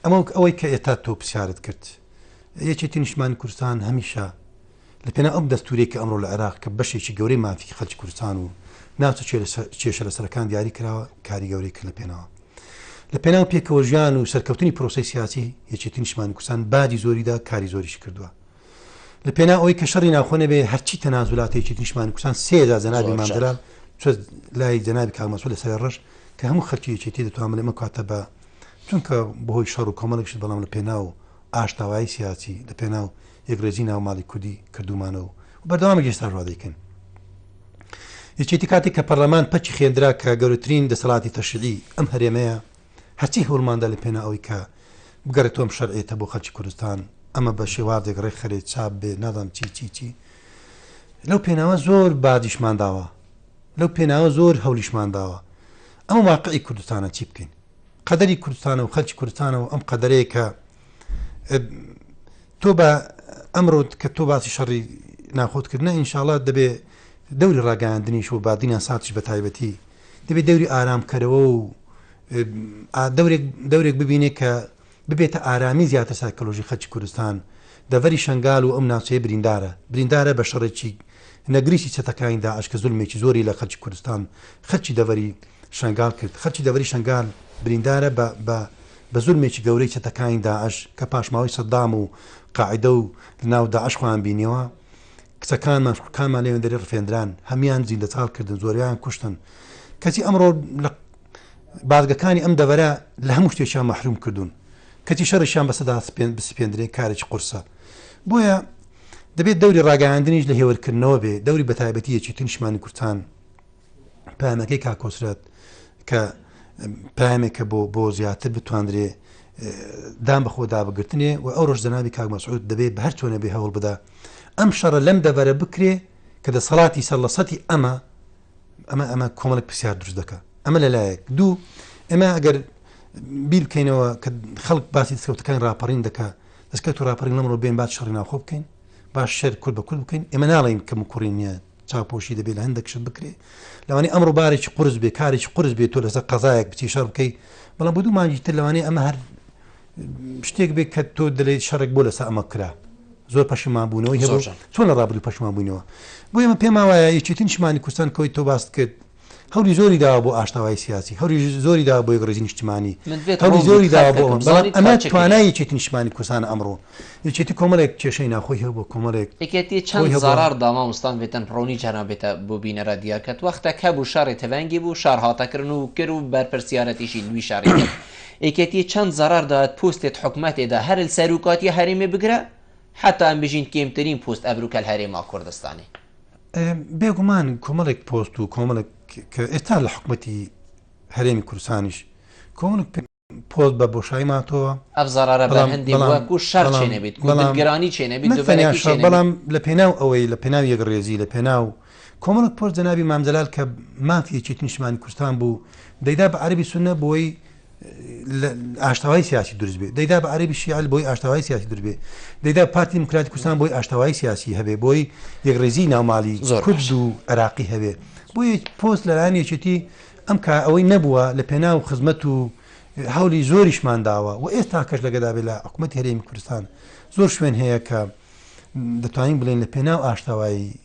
ئەمە ئەوەی کە ئێتا تۆ پرسیارت کرد یەکێتی نیشمان کوردستان هەمیشە لە پێنا ئەم دەستورێک کە ئەمڕۆ لە عێراق کە بەشێکی گەورەی مافی خەلکی کوردستان و ناوچە کێشە لە سەرەکان دیاری کراوە کاری گەورەی کرد لە پێناوە لە پێناو پێکەوە ژیان و سەرکەوتنی پرۆسەی سیاسی یەکێتی نیشتمانی کوردستان بادی زۆریدا کاری زۆریشی کردووە لە پێنا ئەوی کە شەڕی ناوخۆ نەبێ هەرچی تەنازولاتی یەکێتی نیشتمانی کوردستان سێدا جەنابی زۆر مامدرا جار. چۆ لای جەنابی کاغمەسوول لەسەر ڕەش کە هەموو خەلکی یەکێتی دەتوان بڵێ ئەمە کاتە بە چونکە بەهۆی شەڕ و کۆمەڵێکشت بەڵام لە پێناو ئاشتاوایی سیاسی لە پێناو یەکڕیزی ناو ماڵی کوردی کردوومانە و بەردەوامین ئێستاش وا دەیکەین. یەکێتی کاتێک کە پەرلەمان پەکی خێندرا کە گەورەترین دەسەڵاتی تەشریعی ئەم هەرێمەیە، هەرچی هەوڵماندا لە پێناو ئەوەی کە بگەڕێتەوە ئەم شەرعیەتە بۆ خەڵکی کوردستان، ئەمە بە شێوازێک ڕێکخرێت، چاپ بێت، نازانم چی چی چی. لەو پێناوە زۆر باجیشمان داوە، لەو پێناوە زۆر هەوڵیشمان داوە. ئەمە واقعی کوردستانە چی بکەین؟ قەدەری کوردستانە و خەڵکی کوردستانە و ئەم قەدەرەیە کە، تۆ بە ئەمرۆت کە تۆ باسی شەڕی ناخۆت کردنە ئینشاالله دەبێ دەوری ڕاگەاندنیش و بادینە ساچ بە تایبەتی دەبێت دەوری ئارامکەرەوە و دەورێک ببینێ کە ببێتە ئارامی زیاتر سایکۆلۆژی خەچی کوردستان دەڤری شنگال و ئەم ناوچەیە بریندارە بریندارە بە شەڕێکی نەگریسی چەتەکانی داعش کە زولمێکی زۆری لە خەلکی کوردستان خەلکی دەڤەری شەنگال کرد خەلکی دەڤەری شەنگال بریندارە بە بە بە زولمێکی گەورەی چەتەکانی داعش کە پاشماوەی سەدام و قاعیدە و لە ناو داعش خۆیان بینیەوە کچەکانمان خوکانمان لەوێن دەری ڕفێندران هەمیان زیندە چاڵ کردن زۆریان کوشتن کەچی ئەمڕۆ لە بازگەکانی ئەم دەڤەرە لە هەموو شتێکیان مەحروم کردوون کەچی شەڕیشیان بەسەدا بسپێندرێ کارێکی قورسە بۆیە دەبێت دەوری ڕاگەیاندنیش لە هێورکردنەوە بێ دەوری بەتایبەتی یەکێتی نیشتمانی کوردستان پامەکەی کاکۆسرەت کە پامێکە بۆ بۆ زیاتر بتواندرێ دام بە خۆدا بگرتنێ و ئەو ڕۆژ جەناوی کاک مەسعود دەبێت بە هەر چۆنە بێ هەوڵ بدا ئەم شەڕە لەم دەبەرە بکرێ کە دەسەڵاتی سەر لە سەتی ئەمە ئەمە ئەمە کۆمەڵک پرسیار دروست دەکە ئەمە لەلایەک دوو ئەمە ئەگەر بیر بکەینەوە کە خەڵک باسی دەسکەوتەکان راپەڕین دەکە دەست کەوت و ڕاپەڕین لەمڕۆ بێن با شەڕی ناوخۆ بکەین با شەر کورد بە کورد بکەین ئێمە ناڵێین کەم و کوڕی نییە چاوپۆشی دەبێت لە هەندێک شت بکرێ لەوانی ئەمڕۆ بارێکی قرس بێ کارێکی قرس بێت تۆ لەسەر قەزایەک بچی شەڕ بکەی بەڵام بۆ دوو مانگی تر لەوانی ئەمە هەر شتێک بێت کە تۆ دەلێت شەڕێک بۆ لەسەر ئەمە کرا زۆر پەشیمان بوونەوەی هەبوو چۆن لە ڕابردوو پەشمان بووینەوە بۆ ئێمە پێما وایە یەکێتین شمانی کوردستان کەوەی تۆ باست کرد هەولی زۆری داوە بۆ ئاشتەوایی سیاسی، هەولی زۆری داوە بۆ یەکڕیزی نیشتمانی، هەولی زۆری داوە بۆ ئەوان، بەڵام ئەمە توانای یەکێتی نیشتمانی کوردستانە ئەمڕۆ. یەکێتی کۆمەڵێک کێشەی ناوخۆی هەبووە، کۆمەڵێک. یەکێتی چەند زەڕەڕ دا مامۆستا مڤتن ڕوونی جاران بێتە بۆ بینەرا دیار کەت وەختەک هەبوو شەڕی تڤەنگی بوو شەڕ هاتە کرن و کر و بەرپرسیارەتیشی لوی شەڕی کرد یەکێتی چەند زەڕەڕ دایەت پوستێت حکومەتێ دا هەر لسەروکاتیە هەرێمێ بگرە حەتا ئەمبژین کێمترین پوست ئەبروکەل هەرێما کوردستانی بێگومان کۆمەڵێک پۆست و کۆمەڵک کە ئێستا لە حکومەتی هەرێمی کورسانیش کۆمەڵک پۆست بە بۆشایی ماتەوە ئەف زەڕەرە بە هەندی وەکو شەر چێ نەبیت بەڵامگرانی چێ نەبیت بەڵام لە پێناو ئەوەی لە پێناو یەک ڕێزی لە پێناو کۆمەڵک پۆست جەنابی مامجلال کە مافیەکی نیشتمانی کوردستان بوو دەیدا بە عەربی سنە بۆی ئاشتەوایی سیاسی دروست بێ دەیدا بە عەربی شیعل بۆی ئاشتەوایی سیاسی دروست بێ دەیدا پارتی دیموکراتی کوردستان بۆی ئاشتەوایی سیاسی هەبێ بۆی یەکڕێزی ناومالی زۆر کورد و عراقی هەبێ بۆی پۆست لەلایەن یەکێتی ئەم کا ئەوەی نەبووە لە پێنا و خزمەت و هەولی زۆریشمان داوە و ئێستا کەش لەگەدا بێ لە حکوومەت هەرێمی کوردستان زۆر شوێن هەیە کە دەتوانین بڵێن لە پێناو ئاشتەوایی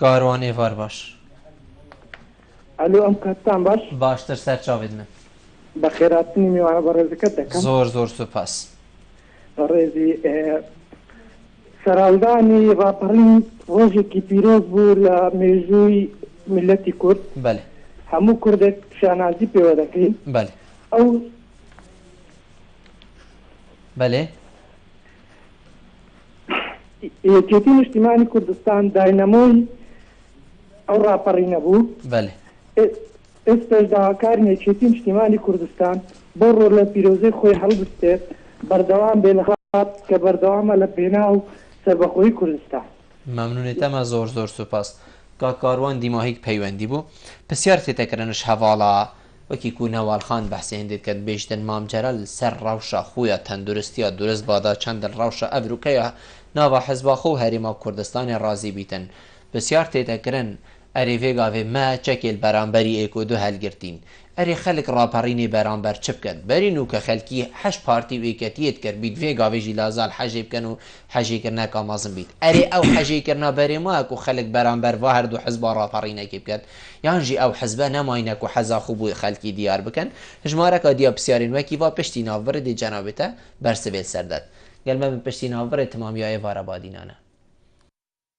کاروان ئێڤار باش ئەلۆ ئەم کاتتان باش باشتر سەر چاوێت من بەخێراتنی میوانە بەڕێزەکەت دەکەم زۆر زۆر سوپاس بەڕێزی سەراودانی ڕاپەڕین ڕۆژێکی پیرۆز بوو لە مێژووی میلەتی کورد بەێ هەموو کوردێک شانازی پێوە دەکەین بەێ ئەو بەێ یەکێتی نیشتیمانی کوردستان داینەمۆی ئەو ڕاپەڕینە بوو. بەلێ. ئێستاش داواکارین یەکێتی نیشتیمانی کوردستان بەو ڕۆلە پیرۆزەی خۆی هەڵبستێت، بەردەوام بێت لە کە بەردەوامە لە پێناو سەربەخۆیی کوردستان. مەمنونیتەمە زۆر زۆر سوپاس کاک کاروان دیماهیک پەیوەندی بوو پسیار تێتەکرنش هەڤاڵە وەکی کو نەوال خان بەحسی هندێت کەت بێژتن مام جەلال سەر ڕەوشە خویە تەندورستیە دورست بادا چەندن ڕەوشە ئەڤرو کەیە ناڤە حزبا خو هەرێما کوردستانێ ڕازی بیتن بسیار تێتە کرن ئەرێ ڤێگاڤێ مە چەکێل بەرامبەری ئێک و دو هەلگرتین ئەرێ خەلک ڕاپەڕینێ بەرامبەر چ بکەت بەرین و کە خەلکی حەش پارتی و ئێکەتیێت کەر بیت ڤێگاڤێ ژی لازال حەژێ بکەن و حەژی کرنا کامازم بیت ئەرێ ئەو حەژی کرنا بەرێ ماکو خەلک بەرامبەر ڤا هەردوو حزبا ڕاپەڕینەکی بکەن یان ژی ئەو حزبە نەماینە کو حەزا خو بوی خەلکی دیار بکەن ژمارەکا دیا پسیارین وەکی ڤا پشتی ناڤ بڕی دی جەنابتە بەر سڤێل سەردەت گەل مەبن پشتی ناڤ بڕێ تمامیایێ ڤارە بادینانە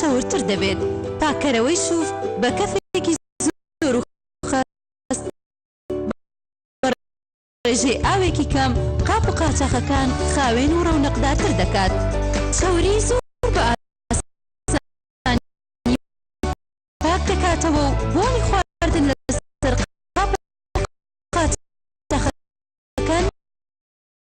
چەورتر دەبێت، پاککەرەوەی شوف بە کەفێکی زۆر و خەست بە ڕێژەی ئاوێکی کەم قاپ و قاچاخەکان خاوێن و ڕەونەقدارتر دەکات، چەوری زۆر بە ئاسانی پاک دەکاتەوە و بۆنی خواردن لە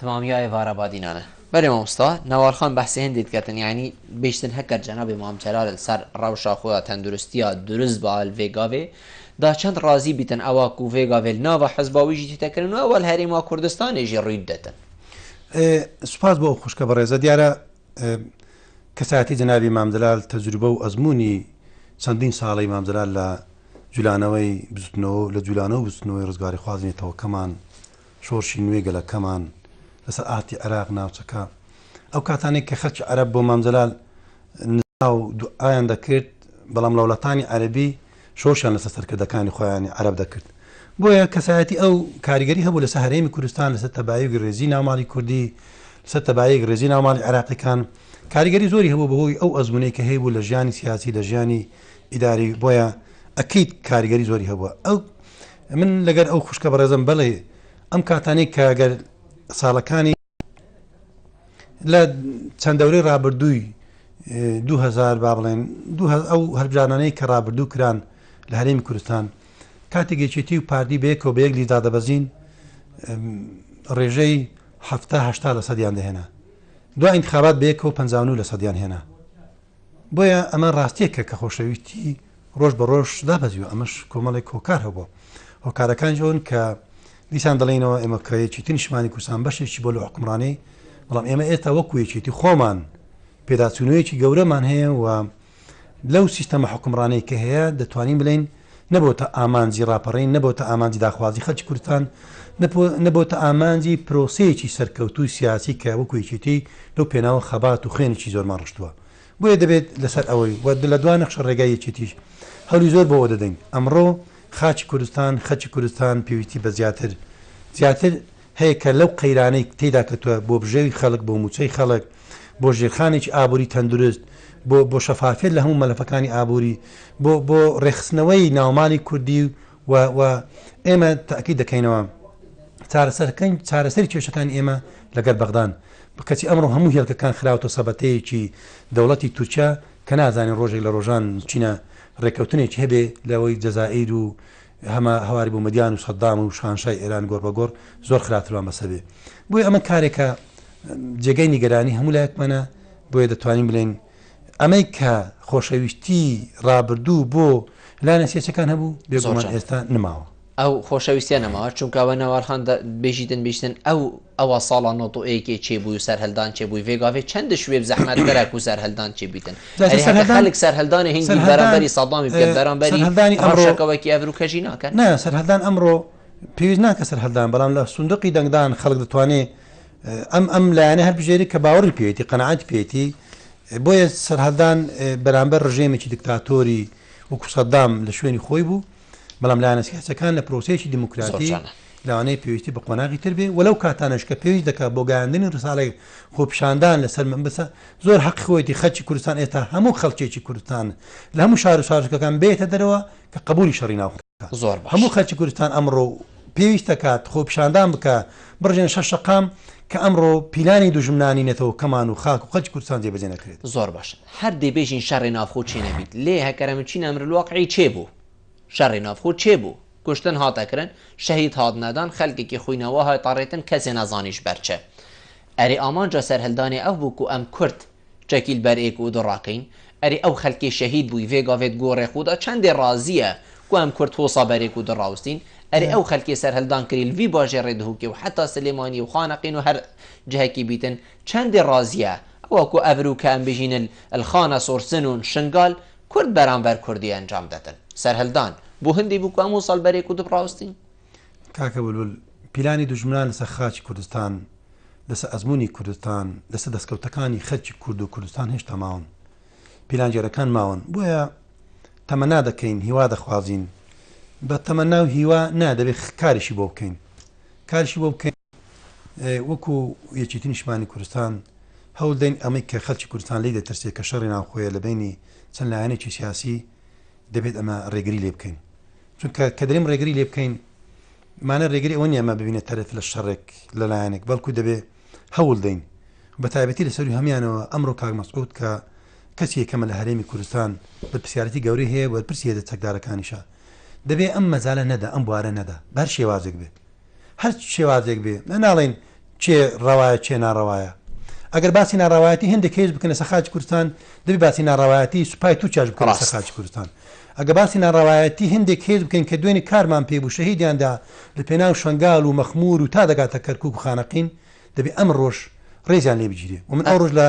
تمامی ئای ڤارا بادی نانە. بەرێ مامۆستا نوار خان بەحسی هندی دکەتن یانی بیشتن هەکەر جەنابی مام جەلالن سەر رەوشا خودا تەندروستیا دروست باال ڤێگاڤێ دا چەند رازی بیتن ئەوا کو ڤێگاڤێل ناڤە حزبا ویژی تیتەکرن و ئەوەل هەرێما کوردستانێ ژی رویت دەتن. سوپاس بۆ ئەو خوشکە بەڕێزە دیارە کەسایەتی جەنابی مام جەلال تەجروبە و ئەزموونی چەندین ساڵەی مام جەلال لە جولانەوەی بزوتنەوە و لە جولانەوە و بزوتنەوەی ڕزگاریخوازی نەتەوەکەمان شۆرشی نوێی گەلەکەمان لەسەر ئاستی عێراق ناوچەکە ئەو کاتانەی کە خەلکی عەرەب بۆ مام جەلال نزا و دوعایان دەکرد بەڵام ڵەولاتانی عەرەبی شۆرشیان لەسەر سەرکردەکانی خۆیانی عەرەب دەکرد بۆیە کەسایەتی ئەو کاریگەری هەبوو لەسەر هەرێمی کوردستان لەسەر تەبایوگی ڕێزی ناوماڵی کوردی لەسەر تەبایەک ڕێزی ناوماڵی عێراقیەکان کاریگەری زۆری هەبوو بەهۆی ئەو ئەزمونەی کە هەیبوو لە ژیانی سیاسی لە ژیانی ئیداری بۆیە ئەکید کاریگەری زۆری هەبووە ئەو من لەگەر ئەو خوشکە بەڕێزم بەڵێ ئەم کاتانەی کە گەر ساڵەکانی لە چەند دەورەی رابردووی 2000 با بڵێن ئەو هەربژانانەی کە رابردوو کران لە هەرێمی کوردستان کاتێک یەکێتی و پارتی بەیەکەوە بە یەک لیدا دەبەزین ڕێژەی هەهشتا لە سەدیان دەهێنا دو انتخابات بەیەکەوە پ لە سەدیان هێنا بۆیە ئەمە ڕاستیەکە کە خۆشەویستی ڕۆژ بە ڕۆژ دابەزیوە ئەمەش کۆمەڵێک هۆکار هەبووە هۆکارەکانیش ئەون کە دیسان دەڵێنەوە ئێمە کە یەکێتی نیشمانی کوردستان بەشێکی بۆ لە حکومڕانی بەڵام ئێمە ئێستا وەکو یەکێتی خۆمان پێداچوونەوەیەکی گەورەمان هەیە و لەو سیستەمە حکومڕانەی کە هەیە دەتوانین بڵین نەبۆتە ئامانجی ڕاپەڕین، نەبۆتە ئامانجی داخوازی خەڵکی کوردستان، نەبۆتە ئامانجی پرۆسەیەکی سەرکەوتووی سیاسی کە وەکو یەکێتی لەو پێناوە خەبات و خوێنێکی زۆرمان ڕشتووە. بۆیە دەبێت لەسەر ئەوەی و لە دوا نەخشە ڕێگای یەکێتیش هەولی زۆر بۆ ئەوە دەدەین ئەمڕۆ خاکی کوردستان، خەکی کوردستان پێویستی بە زیاتر زیاتر، هەیە کە لەو قەیرانەی تێیدا کەتووە، بۆ بژێوی خەڵک، بۆ مووچەی خەڵک، بۆ ژێرخانێکی ئابووری تەندروست، بۆ بۆ شەفافیەت لە هەموو مەلەفەکانی ئابووری، بۆ بۆ ڕێکخستنەوەی ناومالی کوردی و و ئێمە تەئکید دەکەینەوە چارەسەرکەین چارەسەری کێشەکانی ئێمە لەگەر بەغدان کەچی ئەمڕۆ هەموو هێڵکەکان خراوەتە سەبەتەیەکی دەوڵەتی تورکیا کە نازانین ڕۆژێک لە ڕۆژان چینە ڕێککەوتنێکی هەبێ لەوەی جەزائیر و هەمە هەواری بۆ مەدیان و سەدام و شاهنشای ئێران گۆڕ بە گۆڕ زۆر خراپترمان بەسەر بێ بۆی ئەمە کارێکە جێگەی نیگەرانی هەموو لایەکمانە بۆیە دەتوانین بڵێن ئەمەی کە خۆشەویستی ڕابردوو بۆ لایەنە سێچەکان هەبوو بێزۆمان ئێستا نماوە ئەو خۆشەویستە نەماوە چونکەوە ناوارخان بێژیتن بیستن ئەو ئەوا ساڵا نۆ تۆ ئێکێ چێ بوی و سەرهەلدان چێ بوی ڤێ گاڤێ چەن دش وێب زەحمەت دەرە کو سەرهەلدان چێ بیتن. ئەرێ هەکە خەلک سەرهەلدانێ هنگی بەرامبەری سەدامی بکەن بەرامبەری رەوشەکەوەکی ئەڤرو کەژی ناکەن؟ نا سەرهەلدان ئەمرۆ پێویست ناکە سەرهەلدان بەڵام لە سندوقی دەنگدان خەلک دەتوانێ ئەم ئەم لایەنە هەلبژێری کە باوەری پێیەتی قەناعەتی پێیەتی بۆیە سەرهەلدان بەرامبەر رژێمێکی دکتاتۆری وەکو سەدام لە شوێنی خۆی بوو. بەڵام لایەنە سیاسەکان لە پرۆسەیەکی دیموکراتی لەوانەیە پێویستی بە قۆناغی تر بێ وەلو کاتانش کە پێویست دەکات بۆ گەیاندنی ڕساڵی خۆپشاندان لەسەر من بسە زۆر حەق خۆیەتی خەلکی کوردستان ئێستا هەموو خەلکێکی کوردستان لە هەموو شار و شارکەکان بێتە دەرەوە کە قبولی شەڕی ناو زۆر هەموو خەلکی کوردستان ئەمڕۆ پێویست دەکات خۆپشاندان بکە بڕژێن شە شقام کە ئەمڕۆ پیلانی دوژمنانی نێتەوە کەمان و خاک و خەلکی کوردستان جێبەجێ نەکرێت زۆر باش هەر دەی بێژین شەڕێ ناوخۆ چێ نەبیت لێ هەکەرە من چین ئەمر الواقعی چێ بوو شەڕێ ناوخۆ چێ بوو کوشتن هات ئەکرن شەهید هات نەدان خەلکێکی خوی نەوا هات ئەڕێتن کەسێ نەزانیش بەر چ ئەرێ ئامانجا سەرهەلدانێ ئەو بوو کو ئەم کورد چەکیل بەر ئێک و دڕا کەین ئەرێ ئەو خەلکێ شەهید بووی ڤێ گاڤێت گۆڕێ خودا چەندێ ڕازیە کو ئەم کورد هۆسا بەر ئێک و دڕاوستین ئەرێ ئەو خەلکێ سەرهەلدان کریل ڤی باژێ ڕێ دهوکێ و حەتا سلێمانی و خانەقین و هەر جهکی بیتن چەندی ڕازیە ئەوە کو ئەڤرو کە ئەمبژینن الخانە سورسن و شنگال کورد بەرامبەر کوردی ئەنجام دەدن سەرهلدان بو هندی بو کو ئەمو سال بەرێ کودپ ڕاوستین؟ کاکە بلبل پیلانی دوژمنان لەسەر خاکی کوردستان لەسەر ئەزمونی کوردستان لەسەر دەسکەوتەکانی خەلکی کورد و کوردستان هێشتا ماون پیلانگێرەکان ماون بۆیە تەمەنا دەکەین هیوا دەخوازین بە تەمەنا و هیوا نا دەبێت کاریشی بۆ بکەین کاریشی بۆ بکەین وەکو یەکێتی نیشتمانی کوردستان هەوڵدەین ئەمەی کە خەلکی کوردستان لێی دەترسێت کە شەڕی ناوخۆیە لە بەینی چەند لایەنێکی سیاسی دەبێت ئەمە ڕێگری لێ بکەین چونکە کە دەریم ڕێگری لێ بکەین مانە ڕێگری ئەوە نیە ئەمە ببینە تەرەف لە شەڕێک لە لایەنێک بەڵکو دەبێ هەوڵ دەین بە تایبەتی لە سەری هەمانەوە ئەمڕۆ کاک مەسعود کە کەسی یەکەمە لە هەرێمی کوردستان بە پرسیارەتی گەوری هەیە وەرپرسیە دە چەکدارەکانیشە دەبێ ئەم مەزالە نەدا ئەم بوارە نەدا بەر شێوازێک بێت هەر شێوازێک بێ ئە ناڵێین چێ ڕەوایە چێ ناڕەوایە ئەگەر باسی ناڕەوایەتی هێندێک کەیس بکەن لەسە خاچ کوردستان دەبی باسی ناڕەوایەتی سوپای تو چاش بکەن لەسە خاچ کوردستان ئەگە باسی ناڕەوایەتی هێندێک کەیس بکەین کە دوێنی کارمان پێ بوو شەهیدیاندا لە پێناو شنگال و مەخمور و تا دەگاتە کەرکک و خانەقین دەبی ئەم ڕۆژ ڕێزیان لێ بگیرێ ومن ئەو ڕۆژ لە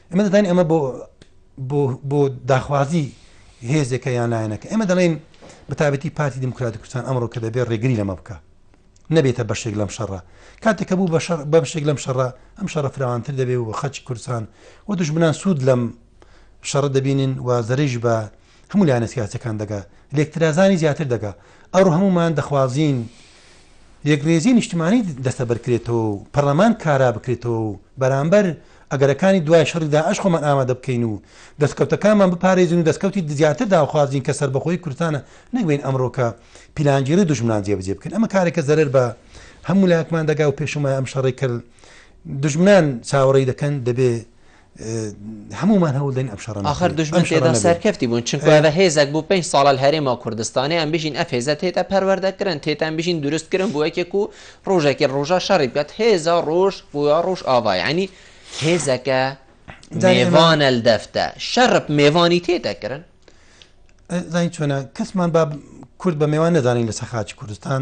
ئێمە دەزانین ئەمە بۆ بۆ داخوازی هێزێکە یان لایەنەکە ئێمە دەڵێن بەتابەتی پارتی دیموکراتی کوردستان ئەمڕۆ کە دەبێت ڕێگری لەمە بکە نەبێتە بەشێک لەم شەڕە کاتێکە بوو بەشەر بەشێک لەم شەڕە ئەم شەڕە فراوانتر دەبێ و خەچ کوردستان و دژمنان سوود لەم شەڕە دەبینن و زەرش بە هەموو لایەنە سیاسیەکان دەگا لێکترازانی زیاتر دەگا ئەڕۆ هەموومان دەخوازین یەکڕێزی نیشتمانی دەستەبەر کرێتەوە و پەڕلەمان کارا بکرێتەوە و بەرامبەر ئەگەرەکانی دوای شەڕی داعش خۆمان ئامادە بکەین و دەستکەوتەکانمان بپارێزین و دەستکەوتی زیاتر داخوازین کە سەربەخۆیی کوردستانە نەک بین ئەمڕۆ کە پیلانگێڕی دوژمنان جێبەجێ بکەین ئەمە کارێکە زەرەر بە هەموو لایەکمان دەگا و پێشمای ئەم شەڕێک کرد دژمنان چاوەڕێی دەکەن دەبێ هەموومان هەوڵ دەین ئەم شەڕە نەکەین. ئاخر دوژمن تێدا سەرکەفتی بوون چونکو ئەڤە هێزەک بوو پێنج ساڵە لە هەرێما کوردستانیان بژین ئەف هێزە تێتا پەروەردە کرن تێتان بژین دروست کرن بۆ یەکێک و ڕۆژێکی ڕۆژە شەڕی بکات هێزە ڕۆژ بۆ ڕۆژ ئاڤا یعنی هێزەکە مێوانە دەفتە شەڕپ مێوانی تێدا کرن زین چۆنە کەسمان با کورد بە مێوان نەزانین لە سەخاچ کوردستان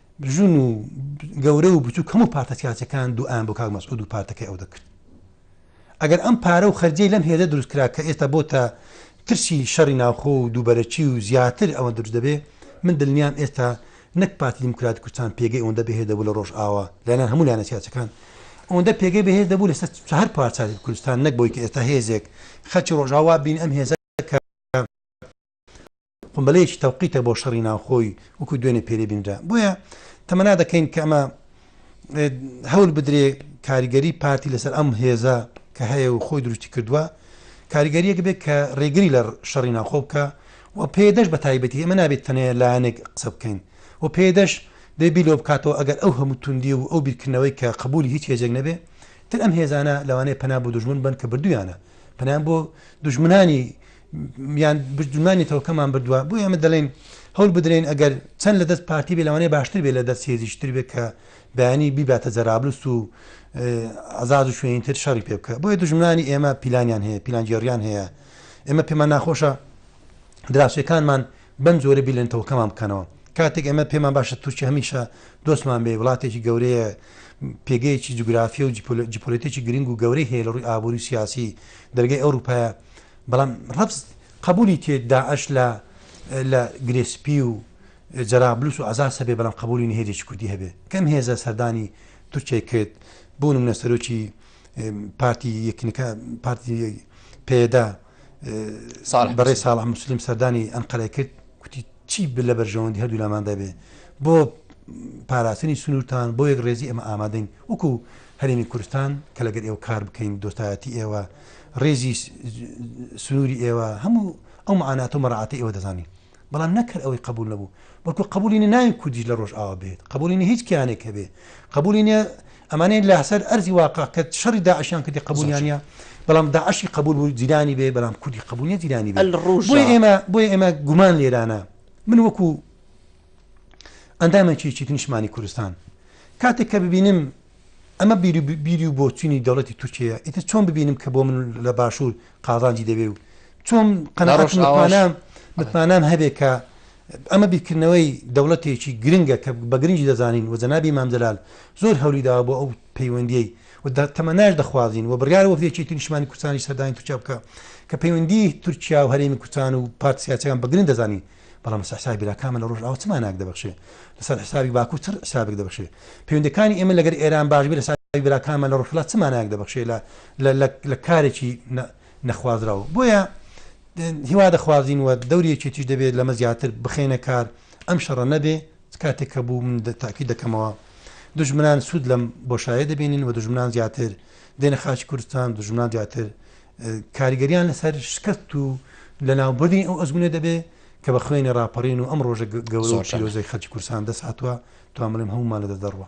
ژن و گەورە و بچوک هەموو پارتە سیاسەکان دوعایان بۆ کاک مەسعود و پارتەکەی ئەو دەکرد ئەگەر ئەم پارە و خەرجەی لەم هێزە دروست کرا کە ئێستا بۆتە ترسی شەڕی ناوخۆ و دووبەرەکی و زیاتر ئەوە دروست دەبێ من دلنیام ئێستا نەک پارتی دیموکرات کوردستان پێگەی ئەوەندە بەهێز دەبوو لە ڕۆژئاوا لەلایەن هەموو لایەنە سیاسەکان ئەوەندە پێگەی بەهێز دەبوو لەسەر هەر پارچاتی کوردستان نەک بۆی کە ئێستا هێزێک خەلکی ڕۆژاوا بین ئەم هێزە قومبلەیەکی تەوقیتە بۆ شەڕی ناوخۆی وەکو دوێنێ پێرێ بینرا بۆیە تەمەنا دەکەین کە ئەمە هەول بدرێ کاریگەری پارتی لەسەر ئەم هێزە کە هەیە و خۆی دروستی کردووە کاریگەریەک بێت کە ڕێگری لە شەڕی ناوخۆ بکە و پێدەش بە تایبەتی ئەمە نابێت تەنەیە لایەنێک قسە بکەین و پێدەش دەبێ بیلۆ بکاتەوە ئەگەر ئەو هەموو توندی و ئەو بیرکردنەوەی کە قبولی هیچ هێزێک نەبێ تر ئەم هێزانە لەوانەیە پەنا بۆ دوژمن بن کە بردویانە پەنایان بۆ دوژمنانی یان بردنمانی تەوکەمان بردوە بۆیە ئێمە دەڵێین هەول بدرێن ئەگەر چەند لە دەست پارتی بێ لەوانەیە باشتر بێ لە دەست هێزیش تر بێ کە بەیانی بیباتە جەرابلوس و ئازاد و شوێنی تر شەڕی پێ بکە بۆیە دژمنانی ئێمە پیلانیان هەیە پیلانگێڕیان هەیە ئێمە پێمان ناخۆشە دراوسەکانمان بەم جۆرە بیلێن تەوکەمان بکەنەوە کاتێک ئەمە پێمان باشە تورکی هەمیشە دۆستمان بێ وڵاتێکی گەورەیە پێگەیەکی جوگرافی و جیپۆلێتێکی گرنگ و گەورەی هەیە لە ڕووی ئابووری سیاسی دەرگەی ئەوروپایە بەڵام ڕەفز قبولی تێ داعش لە لە گرێسپی و جەرابلوس و عزاز هەبێ بەڵام قبولی نهێجێکی کوردی هەبێ کەم هێزە سەردانی تورکیای کرد بۆ نمونە سەرۆکی پارتی یەکنەکە پارتی پێدا بەڕێ ساڵح مسلیم سەردانی ئەنقەرە کرد کوتی چی لە بەرژەوەندی هەردوولاماندا بێ بۆ پاراستنی سنوورتان بۆ یەک ڕێزی ئێمە ئامادەین وەکو هەرێمی کورستان کە لەگەر ئێوە کار بکەین دۆستایەتی ئێوە ڕێزی سنووری ئێوە هەموو ئەو معانات و مەڕعاتی ئێوە دەزانین بەڵام نەکرد ئەوەی قبول نەبوو بەڵکو قبولی ناوی کوردیش لە ڕۆژ ئاوا بێت قبولی هیچ کیانێک هەبێ قبولی ئەمانەی لاسەر ئەرزی واقع کە شەڕی داعشیان کردی قبولیان نیە بەڵام داعشی قبول بوو جیرانی بێ بەڵام کوردی قبول نیە جیرانی بێ بۆیە ئێمە بۆیە ئێمە گومان لێرانە من وەکو ئەندامێکی چیتر نیشمانی کوردستان کاتێک کە ببینم ئەمە بیری و بۆچینی دەوڵەتی تورکیە ئیتر چۆن ببینم کە بۆ من لە باشوور قازانجی دەبێ و چۆن قەنەڕۆژناوانە متمانام هەبێ کە ئەمە بیرکردنەوەی دەوڵەتێکی گرنگە کە بە گرنگی دەزانین و جەنابی مام جەلال زۆر هەولی داوە بۆ ئەو پەیوەندییەی و تەمەناش دەخوازین و بڕیارە وەفدی یەکێتی نیشتمانی کوردستانیش سەردانی تورکیا بکا کە پەیوەندی تورکیا و هەرێمی کوردستان و پارتە سیاسیەکان بە گرنگ دەزانین بەڵام لەسەر حسابی براکانمان لە ڕۆژئاوا چ مانایەک دەبەخشێ لەسەر حسابی باکوور چ حسابێک دەبەخشێ پەیوەندەکانی ئێمە لەگەر ئێران باش بێ لەسەر براکانمان لە ڕۆژهەڵات چ مانایەک دەبەخشێ لە لە کارێکی نەخوازراو بۆیە هیوا دەخوازین و دەوری یەکێتیش دەبێت لەمە زیاتر بخەینە کار ئەم شەڕە نەبێ چ کاتێک کە بوو من تاکید دەکەمەوە دژمنان سوود لەم بۆشایە دەبینین و دژمنان زیاتر دێنە خاچ کوردستان دژمنان زیاتر کاریگەریان لەسەر شکست و لە ناوبردنی ئەو ئەزمونە دەبێ کە بە خوێنی ڕاپەڕین و ئەم ڕۆژە گەورە پیرۆزەی خەلکی کورسان دەساتوە توامڵیم هەمومان لە دەدەڕوە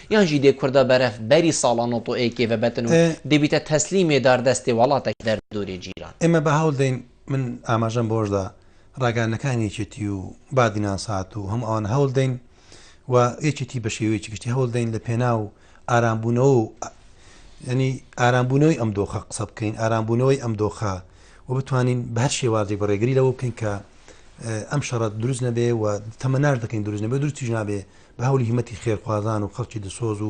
یان ژی دێ کوردە بەرەف بەری ساڵانۆ تۆ ئێ کێڤە بەتن و دێبیتە تەسلیمێ دار دەستێ وەڵاتەک دەر دۆرێ جیران. ئێمە بە هەوڵ دەین من ئاماژەم بەوەش دا ڕاگەیاندنەکانی یەکێتی و بادی ناسات و هەموو ئەوانە هەوڵ دەین و یەکێتی بە شێوەیەکی گشتی هەوڵ دەین لە پێناو ئارامبوونەوە و یعنی ئارامبوونەوەی ئەم دۆخە قسە بکەین ئارامبوونەوەی ئەم دۆخە و بتوانین بە هەر شێوازێک بە ڕێگری لەوە بکەین کە ئەم شەڕەت دروست نەبێ و تەمەناش دەکەین دروست نەبێ دروستیش نابێ بە هەولی هیمەتی خێرخوازان و خەڵکی دلسۆز و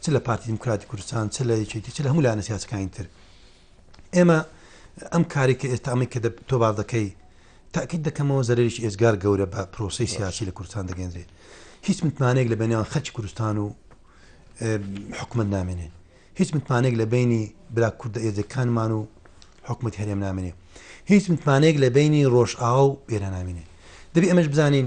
چ لە پارتی دیموکراتی کوردستان چ لە یەکێتی چ لە هەموو لایەنە سیاسەکانی تر ئێمە ئەم کاری کە ئێستا ئەمەی کە تۆ باز دەکەی تاکیت دەکەمەوە زەرریش ئێزگار گەورە بە پرۆسی سیاسی لە کوردستان دەگەندرێت هیچ متمانەیەک لە بەنیان خەرکی کوردستان و حکومت نامێنێ هیچ متمانێک لە بینی برا کوردە ئێزەکانمان و حکومت هەرێم نامێنێ هیچ متمانێک لە بینی ڕۆژئاوا و ئێرە نامێنێ دەبی ئەمەش بزانین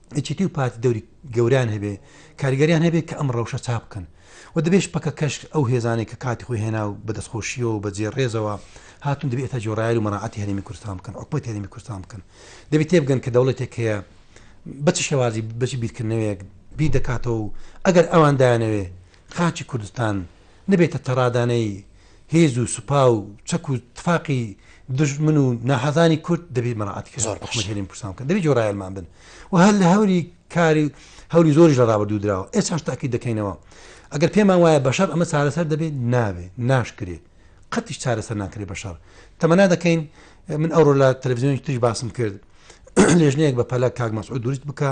یەکێتی و پارتی دەوری گەوریان هەبێ کاریگەریان هەبێ کە ئەم ڕەوشە چاک بکەن و دەبێش پەکە کەش ئەو هێزانەی کە کاتی خۆی هێنا و بە دەستخۆشیەوە و بە جێ ڕێزەوە هاتون دەبێت تا جۆڕایل و مەراعاتی هەرێمی کوردستان بکەن حکومەت هەرێمی کوردستان بکەن دەبێت تێبگەن کە دەوڵەتێک هەیە بەچ شێوازی بەچ بیرکردنەوەیەک بی دەکاتەوە و ئەگەر ئەوان دایانەوێ خاکی کوردستان نەبێتە تەڕادانەی هێز و سوپا و چەک و تفاقی دوژمن و ناحەزانی کورد دەبێ مەراعاتی کە زۆر حکومەت هێرێن پرسان بکەن دەبێ جۆرایەلمان بن و هەر لە هەوری کاری هەوری زۆریش لە ڕابردوو دراوە ئێساش تاکی دەکەینەوە ئەگەر پێمان وایە بەشەر ئەمە چارەسەر دەبێت نابێ ناشکرێ قەتیش چارەسەر ناکرێ بەشەر تەمەنا دەکەین من ئەوڕۆ لە تەلەڤزیۆنی تریش باسم کرد لێژنەیەک بە پەلە کاک مەسعود دروست بکە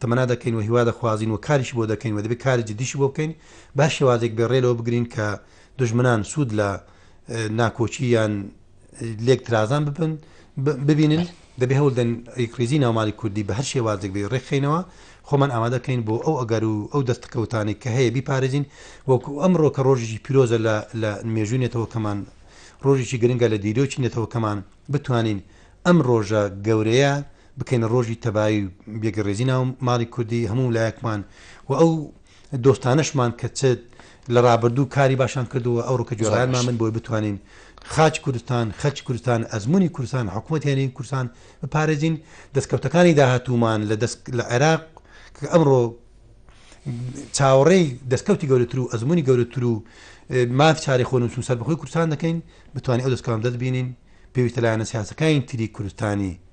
تەمەنا دەکەین و هیوا دەخوازین و کاریشی بۆ دەکەین و دەبێت کاری جدیشی بۆ بکەین، بە شێوازێک بێت رێ لەوە بگرین کە دوژمنان سوود لە ناکۆکی یان لێک ترازان ببن ببینن، دەبێت هەول دەن ریکخریزی ناومالی کوردی بە هەر شێوازێک بێت رێکخەینەوە، خۆمان ئامادەکەین بۆ ئەو ئەگەر و ئەو دەستکەوتانەی کە هەیە بیپارێزین، وەکو ئەمرۆ کە رۆژێکی پیرۆزە لە لە مێژووی نەتەوەکەمان، رۆژێکی گرنگە لە دیرۆکی نەتەوەکەمان، بتوانین ئەم رۆژە گەورەیە بکەینە ڕۆژی تەبایی و بێگەڕێزی ناو ماڵی کوردی هەموو لایەکمان و ئەو دۆستانەشمان کە چ لە ڕابردوو کاری باشان کردووە ئەوڕۆ کە گوێڕایەنمان بن بۆی بتوانین خاچ کوردستان خەرچ کوردستان ئەزمونی کوردستان حکوومەت هێنین کوردستان بپارێزین دەستکەوتەکانی داهاتوومان لە دەست لە عێراق کە ئەمڕۆ چاوەڕێی دەستکەوتی گەورەتر و ئەزمموی گەورەتر و ماف چاری خۆن و سەربخۆی کوردستان دەکەین بتوانین ئەو دەستکەم دەست بینین پێویستە لایەنە سیاسەکانی تری کوردستانی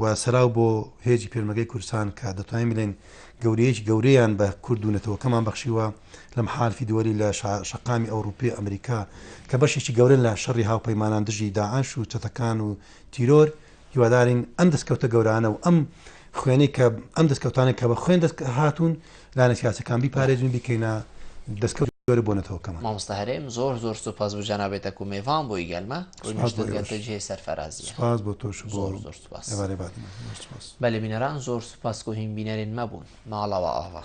و سەراو بۆ هێزی پێشمەرگەی کوردستان کە دەتوانین بڵێین گەورەیەکی گەورەیان بە کورد و نەتەوەکەمان بەخشیوە لە محالفی دووەلی لە شەقامی ئەوروپی و ئەمریکا کە بەشێکی گەورەن لە شەڕی هاوپەیمانان دژی داعش و چەتەکان و تیرۆر هیوادارین ئەم دەستکەوتە گەورانە و ئەم خوێنەی کە ئەم دەستکەوتانە کە بە خوێن دەست هاتوون لایەنە سیاسەکان بیپارێزین و بیکەینە دەسکەوتی جۆرە بۆ نەتەوەکەمان. مامۆستا هەرێم زۆر زۆر سوپاس بۆ جەنابت دەکوم مێڤان بۆی گەلمە ڕوی سوپاس بۆ نوشتن گەلتە ئێوەش جێی سەرفەرازیە سوپاس بۆ تۆش و بۆ زۆر زۆر سوپاس ئێوارەی بادینان زۆر سوپاس. بەلی بینەران زۆر سوپاس کو هین بینەرین مەبوون ماڵەوە ئاڤا.